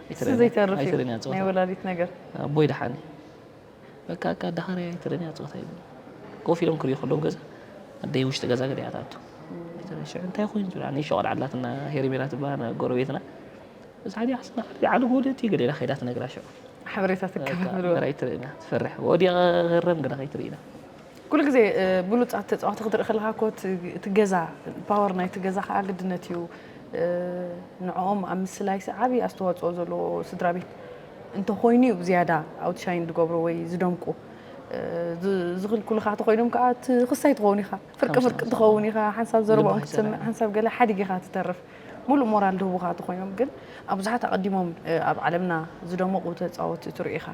እሱ ዘይተርፍ እዩ ናይ ወላዲት ነገር ኣቦይ ደሓን እዩ በቃ እካ ዳኻሪ ኣይትረን እያ ፀወታ ይብሉ ኮፍ ኢሎም ክሪኡ ከለዉ ገዛ ኣደይ ውሽጢ ገዛ ገለ እያ ትኣቱ ሽዑ እንታይ ኮይኑ ዝብል ኣነ ሸቆል ዓላትና ሄሪሜላ ትበሃል ጎረቤትና እዛ ዓዲ ዓስና ዓዲ ዓዲ ጎደቲ ገለ ኢላ ከይዳ ትነግራ ሽዑ ሓበሬታ ትከፍል ትፈርሕ ወዲቐ ክረም ግዳ ከይትርእና ኩሉ ግዜ ብሉጻት ተጻወቲ ክትርኢ ከለካ እኮ እቲ ገዛ ፓወር ናይቲ ገዛ ከዓ ግድነት እዩ ንዕኦም ኣብ ምስላይሲ ዓብዪ ኣስተዋፅኦ ዘለዎ ስድራ ቤት እንተኮይኑ እዩ ዝያዳ ኣውትሻይን ዝገብሩ ወይ ዝደምቁ ዝኽልክሉኻ ተኮይኖም ከዓ እቲ ክሳይ ትኸውን ኢኻ ፍርቂ ፍርቂ ትኸውን ኢኻ ሓንሳብ ዘረባኦም ክትሰምዕ ሓንሳብ ገለ ሓዲግ ኢኻ ትተርፍ ሙሉእ ሞራል ድህቡኻ ተኮይኖም ግን ኣብ ብዙሓት ኣቐዲሞም ኣብ ዓለምና ዝደመቑ ተፃወቲ ትሪኡ ኢኻ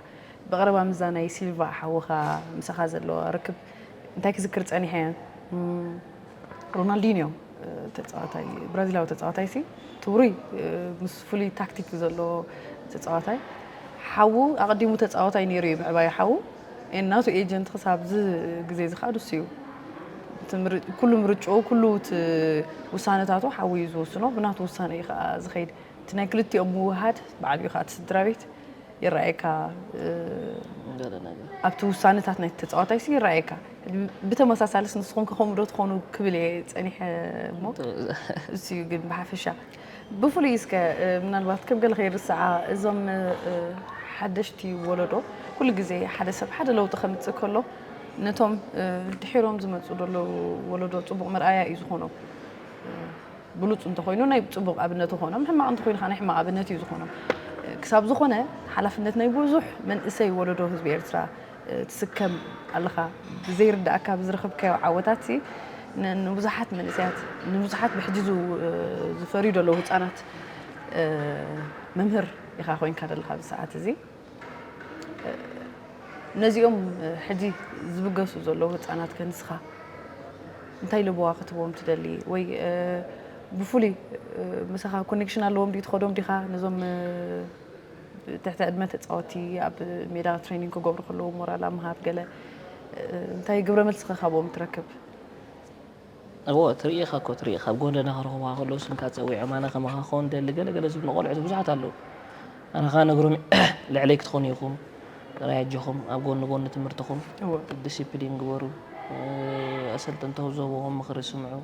ብቐረባ ምስዛ ናይ ሲልቫ ሓውኻ ምሳኻ ዘሎ ርክብ እንታይ ክዝክር ጸኒሐ? ሮናልዲንዮ ተጻዋታይ ብራዚላዊ ተጻዋታይ ሲ ትብሩይ ምስ ፍሉይ ታክቲክ ዘሎ ተጻዋታይ ሓዉ ኣቐዲሙ ተጻዋታይ ነይሩ እዩ ምዕባይ ሓዉ ናቱ ኤጀንት ክሳብ ዚ ግዜ እዚ ከዓ ንሱ እዩ ኩሉ ምርጭኡ ኩሉ ውሳነታቱ ሓዊ እዩ ዝወስኖ ብናቱ ውሳነ እዩ ከዓ ዝኸይድ እቲ ናይ ክልቲኦም ምውህሃድ በዓል እዩ ከዓ እቲ ስድራ ቤት ይረኣየካ ኣብቲ ውሳነታት ናይቲ ተፃዋታይ ሲ ይረኣየካ ብተመሳሳልስ ንስኹም ከ ከምኡ ዶ ትኾኑ ክብል እየ ፀኒሐ እሞ እሱ እዩ ግን ብሓፈሻ ብፍሉይ እስከ ምናልባት ከም ገለ ከይርስዓ እዞም ሓደሽቲ ወለዶ ኩሉ ግዜ ሓደ ሰብ ሓደ ለውጢ ከምፅእ ከሎ ነቶም ድሒሮም ዝመፁ ዘለዉ ወለዶ ፅቡቕ መርኣያ እዩ ዝኾኖም ብሉጽ እንተኾይኑ ናይ ጽቡቕ ኣብነት ይኾኖም፣ ሕማቕ እንተኾይኑ ከኣ ናይ ሕማቕ ኣብነት እዩ ዝኾኖም። ክሳብ ዝኾነ ሓላፍነት ናይ ብዙሕ መንእሰይ ወለዶ ህዝቢ ኤርትራ ትስከም ኣለኻ። ብዘይርደኣካ ብዝረኸብካዮ ዓወታትሲ ንብዙሓት መንእሰያት ንብዙሓት ብሕጂ ዝፈርዩ ዘለዉ ህጻናት መምህር ኢኻ ኮይንካ ዘለኻ ኣብዚ ሰዓት እዚ። ነዚኦም ሕጂ ዝብገሱ ዘለዉ ህፃናት ከ ንስኻ እንታይ ልበዋ ክትቦም ትደሊ ወይ ብፍሉይ ምሳኻ ኮኔክሽን ኣለዎም ድዩ ትኸዶም ዲኻ ነዞም ትሕቲ ዕድመ ተፃወቲ ኣብ ሜዳ ትሬኒንግ ክገብሩ ከለዉ ሞራል ኣብ ምሃብ ገለ እንታይ ግብረ መልሲ ኸ ካብኦም ትረክብ? እወ ትርኢ ኢኻ እኮ ትርኢ ካብ ጎደና ክረኽቡኻ ከለዉ ስምካ ጸዊዖም ኣነ ከማኻ ክኸውን እደሊ ገለ ገለ ዝብሉ ቆልዑት ብዙሓት ኣለዉ ኣነ ከኣ ነግሮም ልዕለይ ክትኾኑ ኢኹም ጥራይ ኣጆኹም ኣብ ጎኒ ጎኒ ትምህርትኹም ዲሲፕሊን ግበሩ ኣሰልጠንቶም ዝህብዎም ምኽሪ ስምዑ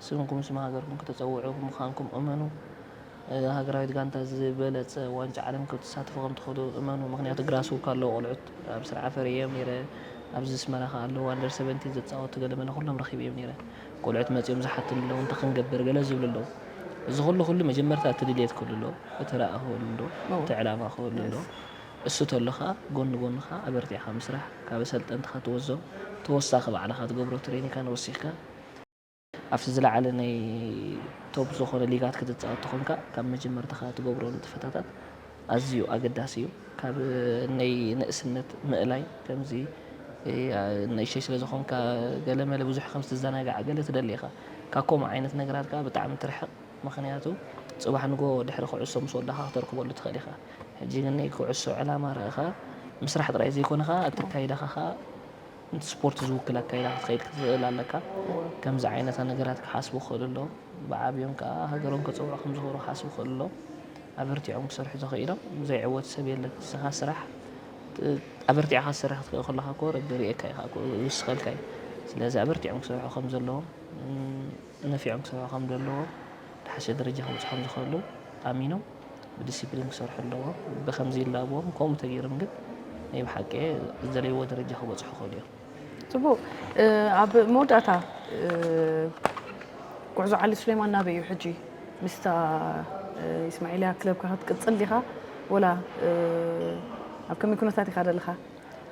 ስምኩም ስም ሃገርኩም ክተጸውዑ ምዃንኩም እመኑ ሃገራዊት ጋንታ ዝበለጸ ዋንጫ ዓለም ክትሳተፉ ከም ትኽእሉ እመኑ ምኽንያቱ ግራስዉ ካለዉ ቆልዑት ኣብ ስርዓ ፈርየዮም ኔረ ኣብዚ ኣስመራ ከኣ ኣለዉ ኣንደር ሰቨንቲን ዘጻወቱ ገለ መለ ኩሎም ረኺበዮም ኔረ ቆልዑት መጺኦም ዝሓቱኒ ኣለዉ እንታይ ክንገብር ገለ ዝብሉ ኣለዉ እዚ ኩሉ ኩሉ መጀመርታ እቲ ድልየት ክህሉ ኣለዎ እቲ ራኢ ክህሉ ኣለዎ እቲ ዕላማ ክህሉ ኣለዎ እሱ ተሎካ ጎኒ ጎንኻ ኣበርቲዕካ ምስራሕ ካብ ኣሰልጠንትኻ ትወስዞ ተወሳኺ ባዕልኻ ትገብሮ ትሬኒካን ወሲኽካ ኣብቲ ዝለዓለ ናይ ቶፕ ዝኾነ ሊጋት ክትጻወት ተኾንካ ካብ መጀመርታኻ ትገብሮ ንጥፈታታት ኣዝዩ ኣገዳሲ እዩ። ካብ ነይ ንእስነት ምእላይ ከምዚ ንእሽተይ ስለ ዝኾንካ ገለ መለ ብዙሕ ከም ትዘናጋዕ ገለ ትደሊ ኢኻ ካብ ከምኡ ዓይነት ነገራት ከኣ ብጣዕሚ ትርሕቕ ምኽንያቱ ጽባሕ ንግሆ ድሕሪ ኩዕሶ ምስ ወዳእካ ክተርክበሉ ትኽእል ኢኻ ሕጂ ግን ነይ ኩዕሶ ዕላማ ርኢኻ ምስራሕ ጥራይ ዘይኮነ ከኣ ኣተካይዳኻ ከኣ ነቲ ስፖርት ዝውክል ኣካይዳ ክትኸይድ ክትኽእል ኣለካ። ከምዚ ዓይነታ ነገራት ክሓስቡ ክኽእሉ ኣለዎም። ብዓብዮም ከኣ ሃገሮም ከጸውዑ ከም ዝኽእሉ ክሓስቡ ክኽእሉ ኣለዎም። ኣበርቲዖም ክሰርሑ ተኸኢሎም ዘይዕወት ሰብ የለን። ንስኻ ስራሕ ኣበርቲዕኻ ክትሰርሕ ክትክእል ከሎኻ እኮ ረቢ ይርእየካ ኢኻ እኮ ይውስኸልካ እዩ። ስለዚ ኣበርቲዖም ክሰርሑ ከም ዘለዎም ነፊዖም ክሰርሑ ከም ዘለዎም ዝሓሸ ደረጃ ከብጽሖም ዝኽእሉ ኣሚኖም ብዲሲፕሊን ክሰርሑ ኣለዎም። ብከምዚ ይላበዎም ከምኡ ተገይሮም ግን ናይ ብሓቂ ዝደለይዎ ደረጃ ክበፅሑ ይኽእሉ እዮም። ፅቡቅ ኣብ መወዳእታ ጉዕዞ ዓሊ ሱሌማን ናበይ እዩ ሕጂ ምስታ ኢስማዒልያ ክለብካ ክትቅፅል ዲኻ ወላ ኣብ ከመይ ኩነታት ኢኻ ዘለኻ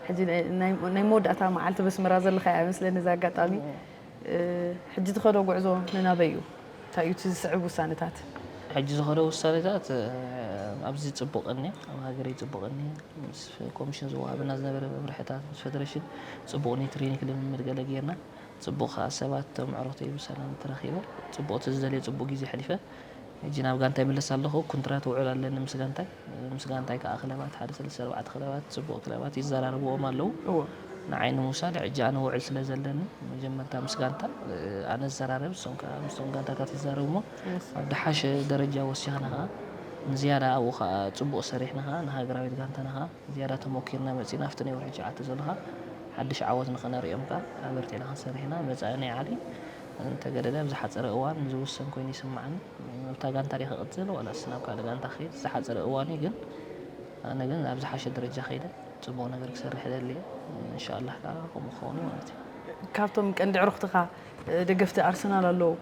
ሕጂ ናይ መወዳእታ መዓልቲ በስመራ ዘለኻያ እያ መስለኒ እዚ ኣጋጣሚ ሕጂ ዝኸዶ ጉዕዞ ንናበይ እዩ? እንታይ እዩ እቲ ዝስዕብ ውሳነታት? ሕጂ ዝኸዶ ውሳነታት ኣብዚ ጽቡቕ እኒሀ፣ ኣብ ሃገረይ ጽቡቕ እኒሀ፣ ምስ ኮሚሽን ዝወሃበና ዝነበረ መምርሕታት፣ ምስ ፈደረሽን ጽቡቕ ናይ ትሬኒክ ልምምድ ገለ ጌርና፣ ጽቡቕ ከኣ ሰባት እቶም ኣዕሩኽተይ ብሰላም ተራኺበ፣ ጽቡቕ እቲ ዝደልዮ ጽቡቕ ግዜ ኣሕሊፈ፣ ሕጂ ናብ ጋንታይ ይምለስ ኣለኹ፣ ኩንትራት ውዑል ኣለኒ ምስ ጋንታይ፣ ምስ ጋንታይ ከኣ ክለባት ሓደ ሰለስተ ኣርባዕተ ክለባት ጽቡቕ ክለባት ይዘራረብዎም ኣለዉ፣ ንዓይ ንምውሳድ ሕጂ ኣነ ውዕል ስለ ዘለኒ መጀመርታ ምስ ጋንታ ኣነ ዝዘራረብ ንሶም ከኣ ምስቶም ጋንታታት ይዛረቡ እሞ ኣብ ድሓሸ ደረጃ ወሲኽና ከኣ ንዝያዳ ኣብኡ ከኣ ጽቡቕ ሰሪሕና ከኣ ንሃገራዊት ጋንታና ከኣ ዝያዳ ተሞኪርና መጺና ኣብቲ ናይ ወርሒ ትሽዓተ ዘሎ ከኣ ሓድሽ ዓወት ንኸነርእዮም ከኣ ኣበርቲዕና ክንሰርሕ ኢና፣ መጻኢ ናይ ዓሊ እንተገደደ ኣብ ዝሓጸረ እዋን ዝውሰን ኮይኑ ይስማዓኒ ኣብታ ጋንታ ድየ ክቅጽል ዋላስ ናብ ካልእ ጋንታ ክከይድ ዝሓጸረ እዋን እዩ ግን ኣነ ግን ኣብ ዝሓሸ ደረጃ ከይደ ጽቡቅ ነገር ክሰርሕ እደሊ እየ እንሻላህ ካኣ ከምኡ ክከውን እዩ ማለት እዩ። ካብቶም ቀንዲ ኣዕሩኽትኻ ደገፍቲ ኣርሰናል ኣለው።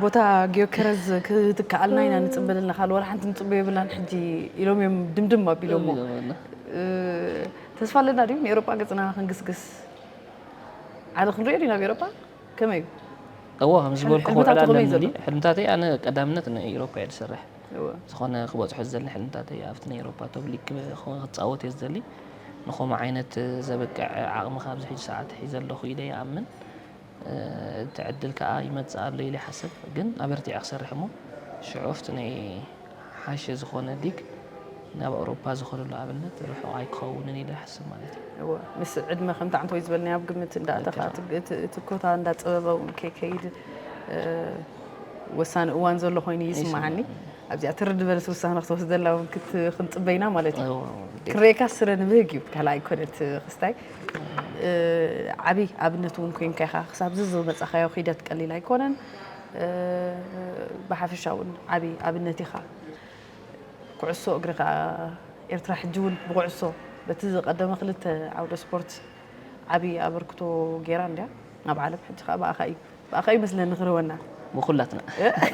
ቦታ ጊዮከረዝ ክትከኣልና ኢና ንጽበ ዘለና ካልእ ወላ ሓንቲ ንጽበዮ የብልናን ሕጂ ኢሎም እዮም ድምድም ኣቢሎሞ ተስፋ ኣለና ድዩ ንኤሮጳ ገጽና ክንግስግስ ዓለ ክንሪኦ ዲና ኣብ ኤሮፓ ከመይ እዩ እዎ ከም ዝበልኩ ክውዕል ኣለኒ ሕልምታተይ ኣነ ቀዳምነት ንኤሮፓ እየ ዝሰርሕ ዝኾነ ክበፅሖ ዝደሊ ሕልምታተይ ኣብቲ ናይ ኤሮፓ ቶብሊግ ክፃወት እየ ዝደሊ ንከምኡ ዓይነት ዘብቅዕ ዓቕሚ ካብዚ ሕጂ ሰዓት ሒዘ ኣለኹ ኢለ ይኣምን እቲ ዕድል ከዓ ይመፅእ ኣሎ ኢለ ይሓስብ ግን ኣበርቲዐ ክሰርሕ እሞ ሽዑ ኣብቲ ናይ ዝሓሸ ዝኾነ ሊግ ናብ ኣውሮፓ ዝኸደሉ ኣብነት ርሑቕ ኣይክኸውንን ኢለ ይሓስብ ማለት እዩ። እወ ምስ ዕድመ ከምቲ ዓንተወይ ዝበልናዮ ኣብ ግምት እንዳእተኻ እቲ ኮታ እንዳጸበበ እውን ከይከይድ ወሳኒ እዋን ዘሎ ኮይኑ ይስምዓኒ ኣብዚኣ ትርድ በለስ ውሳነ ክትወስደላ እውን ክንጽበይና ማለት እዩ ክረካ ስረ ንብህግ እዩ ካልኣ ኣይኮነት ክስታይ ዓብይ ኣብነት እውን ኮንካ ኢኻ ክሳብ ዝዝ መጻኻዮ ኺደት ቀሊል ኣይኮነን ብሓፈሻ ውን ዓቢ ኣብነት ኢኻ። ኩዕሶ እግሪ ከኣ ኤርትራ ሕጂ ውን ብኩዕሶ በቲ ዝቀደመ ክልተ ዓውደ ስፖርት ዓቢ ኣበርክቶ ጌራ እንድያ ኣብ ዓለም ሕጂ ከኣ ብኣኻ እዩ ብኣኻ እዩ መስለኒ ክርህወና ብኩላትና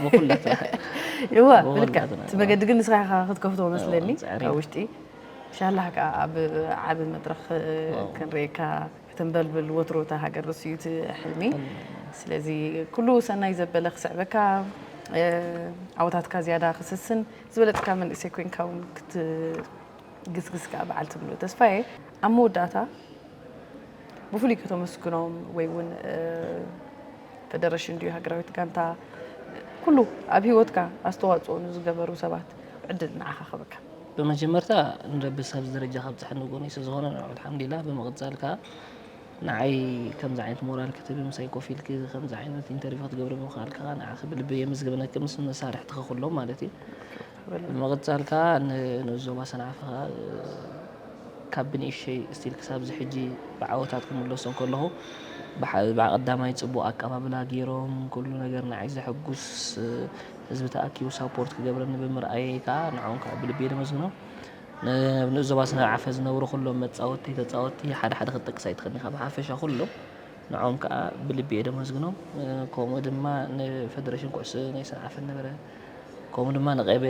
ብኩላትና እወ ብልካ እቲ መገዲ ግን ንስኻ ኢኻ ክትከፍቶ መስለኒ ኣብ ውሽጢ ኢንሻላህ ከኣ ኣብ ዓቢ መድረኽ ክንርእየካ ክትንበልብል ወትሩ እታ ሃገር ንሱ እዩ እቲ ሕልሚ ስለዚ ኩሉ ሰናይ ዘበለ ክስዕበካ ዓወታትካ ዝያዳ ክስስን ዝበለፅካ መንእሰይ ኮይንካ እውን ክትግስግስ ከዓ በዓልቲ ሙሉእ ተስፋ እየ ኣብ መወዳእታ ብፍሉይ ከተመስግኖም ወይ እውን ፈደረሽን ድዩ ሃገራዊት ጋንታ ኩሉ ኣብ ሂወትካ ኣስተዋፅኦ ንዝገበሩ ሰባት ዕድል ንዓኻ ክህበካ ብመጀመርታ ንረቢ ኣብዚ ደረጃ ከብጽሐኒ ንጎነይ ስለዝኾነ ንዑ ኣልሓምዲላ ብምቅጻል ከኣ ንዓይ ከምዚ ዓይነት ሞራል ክትህቢ ምሳይ ኮፍ ኢልኪ ከምዚ ዓይነት ኢንተርቪው ክትገብሪ ምኽኣልኪ ከኣ ንዓኺ ብልቢ የመስግነኪ ምስ መሳርሕትኺ ኩሎም ማለት እዩ ብምቅጻል ከኣ ንንኡስ ዞባ ሰንዓፈ ከኣ ካብ ብንእሽተይ ስቲል ክሳብ እዚ ሕጂ ብዓወታት ክምለሶ ከለኹ ብሓ ብዓቀዳማይ ጽቡቅ ኣቀባብላ ጌሮም ኩሉ ነገር ንዓይ ዘሐጉስ ህዝቢ ተኣኪቡ ሳፖርት ክገብረኒ ብምርኣየይ ከኣ ንዕኦም ከኣ ብልቢ እየ ዘመስግኖም። ኣብ ንኡስ ዞባ ሰንዓፈ ዝነብሩ ኩሎም መጻወትቲ፣ ተጻወትቲ ሓደ ሓደ ክትጠቅስ ኣይትኽእልን ኢኻ ብሓፈሻ ኩሎም ንዕኦም ከኣ ብልቢ እየ ዘመስግኖም። ከምኡ ድማ ንፈደረሽን ኩዕሶ ናይ ሰንዓፈ ዝነበረ ከምኡ ድማ ንቀይሕ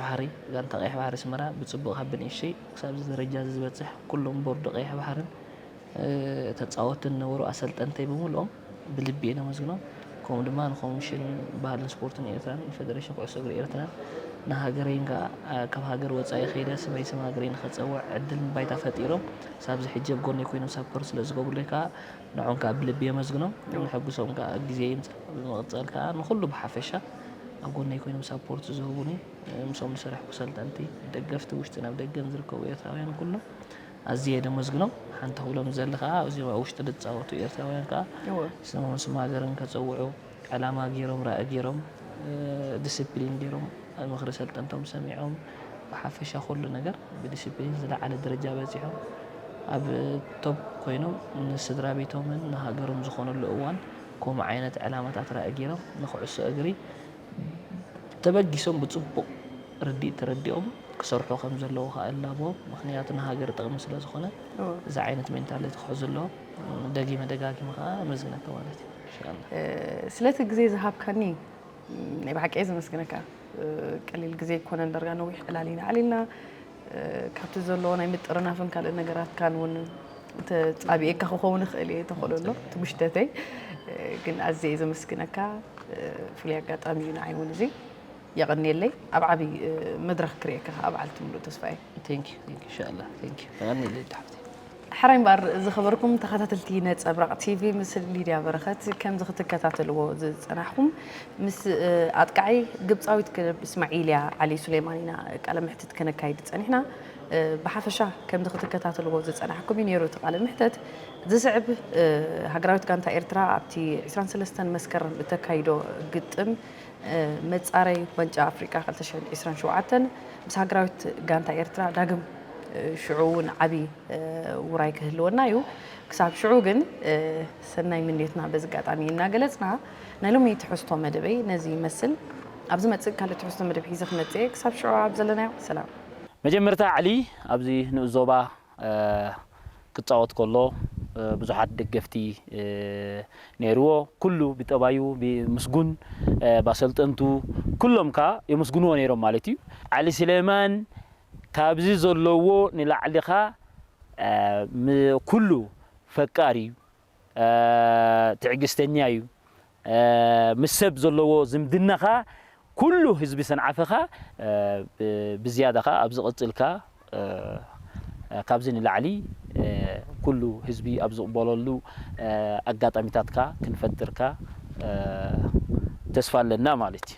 ባሕሪ ጋንታ ቀይሕ ባሕሪ ኣስመራ ብጽቡቕ ካብ ብንእሽተይ ክሳብዚ ደረጃ እዚ ዝበጽሕ ኩሎም ቦርድ ቀይሕ ባሕርን ተጻወትትን ዝነበሩ ኣሰልጠንተይ ብምልኦም ብልቢ እየ ለመስግኖም ከምኡ ድማ ንኮሚሽን ባህልን ስፖርትን ኤርትራን ንፈደረሽን ኩዕሶ እግሪ ኤርትራን ንሃገረይን ከኣ ካብ ሃገር ወጻኢ ከይደ ስመይ ስም ሃገረይ ንኸጸውዕ ዕድልን ባይታ ፈጢሮም ሳብዚ ሕጂ ኣብ ጎነይ ኮይኖም ሳፖርት ስለ ዝገብሩለይ ከኣ ንዖም ከኣ ብልቢ የመስግኖም ንሕጉሶም ከኣ ግዜ ይምጻእ ብምቕጻል ከኣ ንኹሉ ብሓፈሻ ኣብ ጎነይ ኮይኖም ሳፖርት ዝህቡኒ ምስኦም ዝሰርሕኩ ሰልጠንቲ ደገፍቲ ውሽጥን ኣብ ደገን ዝርከቡ ኤርትራውያን ኩሎም ኣዝየ ደመስግኖም ሓንቲ ክብሎም ዝደሊ ከኣ ኣብዚኦም ኣብ ውሽጢ ዝጻወቱ ኤርትራውያን ከኣ ስሞም ስም ሃገርን ከጸውዑ ዕላማ ጌሮም ራኢ ጌሮም ድስፕሊን ጌሮም ምኽሪ ሰልጠንቶም ሰሚዖም ብሓፈሻ ኩሉ ነገር ብድስፕሊን ዝለዓለ ደረጃ በጺሖም ኣብ ቶፕ ኮይኖም ንስድራቤቶምን ንሃገሮም ዝኾኑሉ እዋን ከምኡ ዓይነት ዕላማታት ራኢ ጌሮም ንኩዕሶ እግሪ ተበጊሶም ብፅቡቕ ርድኢት ተረዲኦም ክሰርሑ ከም ዘለዎ ከዓ እላበዎም። ምክንያቱ ንሃገር ጥቕሚ ስለ ዝኾነ እዚ ዓይነት ሜንታሊቲ ክሕዙ ኣለዎም። ደጊመ ደጋጊመ ከዓ ኣመስግነካ ማለት እዩ። ኢንሻላህ። ስለቲ ግዜ ዝሃብካኒ ናይ ብሓቂ እየ ዘመስግነካ። ቀሊል ግዜ ኣይኮነን ዳርጋ ነዊሕ ዕላል ኢና ኣዕሊልና። ካብቲ ዘለዎ ናይ ምጥርናፍን ካልእ ነገራትካን እውን ተጻቢኤካ ክኸውን ይኽእል እየ ተኽእሎ ኣሎ እቲ ጉሽተተይ ግን ኣዝየ እየ ዘመስግነካ ፍሉይ ኣጋጣሚ እዩ ንዓይ እውን እዚ የቐንየለይ ኣብ ዓብዪ መድረኽ ክርእየካ ከዓ በዓልቲ ምሉእ ተስፋ እየ ቴንክ ዩ ቴንክ ዩ ኢንሻ ኣላ ቴንክ ዩ ተቐንየለይ ዳሕብቲ ሕራይ እምበኣር ዝኸበርኩም ተኸታተልቲ ነጸብራቕ ቲቪ ምስ ሊድያ በረኸት ከምዚ ክትከታተልዎ ዝጸናሕኩም ምስ ኣጥቃዒ ግብጻዊት ክለብ እስማዒልያ ዓሊ ሱሌማን ኢና ቃለ መሕትት ከነካይድ ጸኒሕና ብሓፈሻ ከምዚ ክትከታተልዎ ዝጸናሕኩም እዩ ነይሩ እቲ ቃለ መሕተት ዝስዕብ ሃገራዊት ጋንታ ኤርትራ ኣብቲ 23 መስከረም እተካይዶ ግጥም መፃረይ ዋንጫ ኣፍሪቃ ክልተ ሽሕን ዒስራን ሸውዓተን ምስ ሃገራዊት ጋንታ ኤርትራ ዳግም ሽዑ እውን ዓብዪ ውራይ ክህልወና እዩ ክሳብ ሽዑ ግን ሰናይ ምንዮትና በዚ ኣጋጣሚ እናገለፅና ናይ ሎሚ ትሕዝቶ መደበይ ነዚ ይመስል ኣብ ዝመፅእ ካልእ ትሕዝቶ መደብ ሒዘ ክመፅእ እየ ክሳብ ሽዑ ኣብ ዘለናዮ ሰላም መጀመርታ ዕሊ ኣብዚ ንኡስ ዞባ ክጻወት ከሎ ብዙሓት ደገፍቲ ነይርዎ ኩሉ ብጠባዩ ምስጉን ባሰልጠንቱ ኩሎም ከኣ የመስግንዎ ነይሮም ማለት እዩ ዓሊ ስሌማን ካብዚ ዘለዎ ንላዕሊ ከኣ ኩሉ ፈቃር እዩ ትዕግስተኛ እዩ ምስ ሰብ ዘለዎ ዝምድና ከኣ ኩሉ ህዝቢ ሰንዓፈ ከኣ ብዝያዳ ከኣ ኣብዚ ቀጽልካ ካብዚ ንላዕሊ ኩሉ ህዝቢ ኣብ ዝቕበለሉ ኣጋጣሚታት ከኣ ክንፈጥር ከኣ ተስፋ ኣለና ማለት እዩ።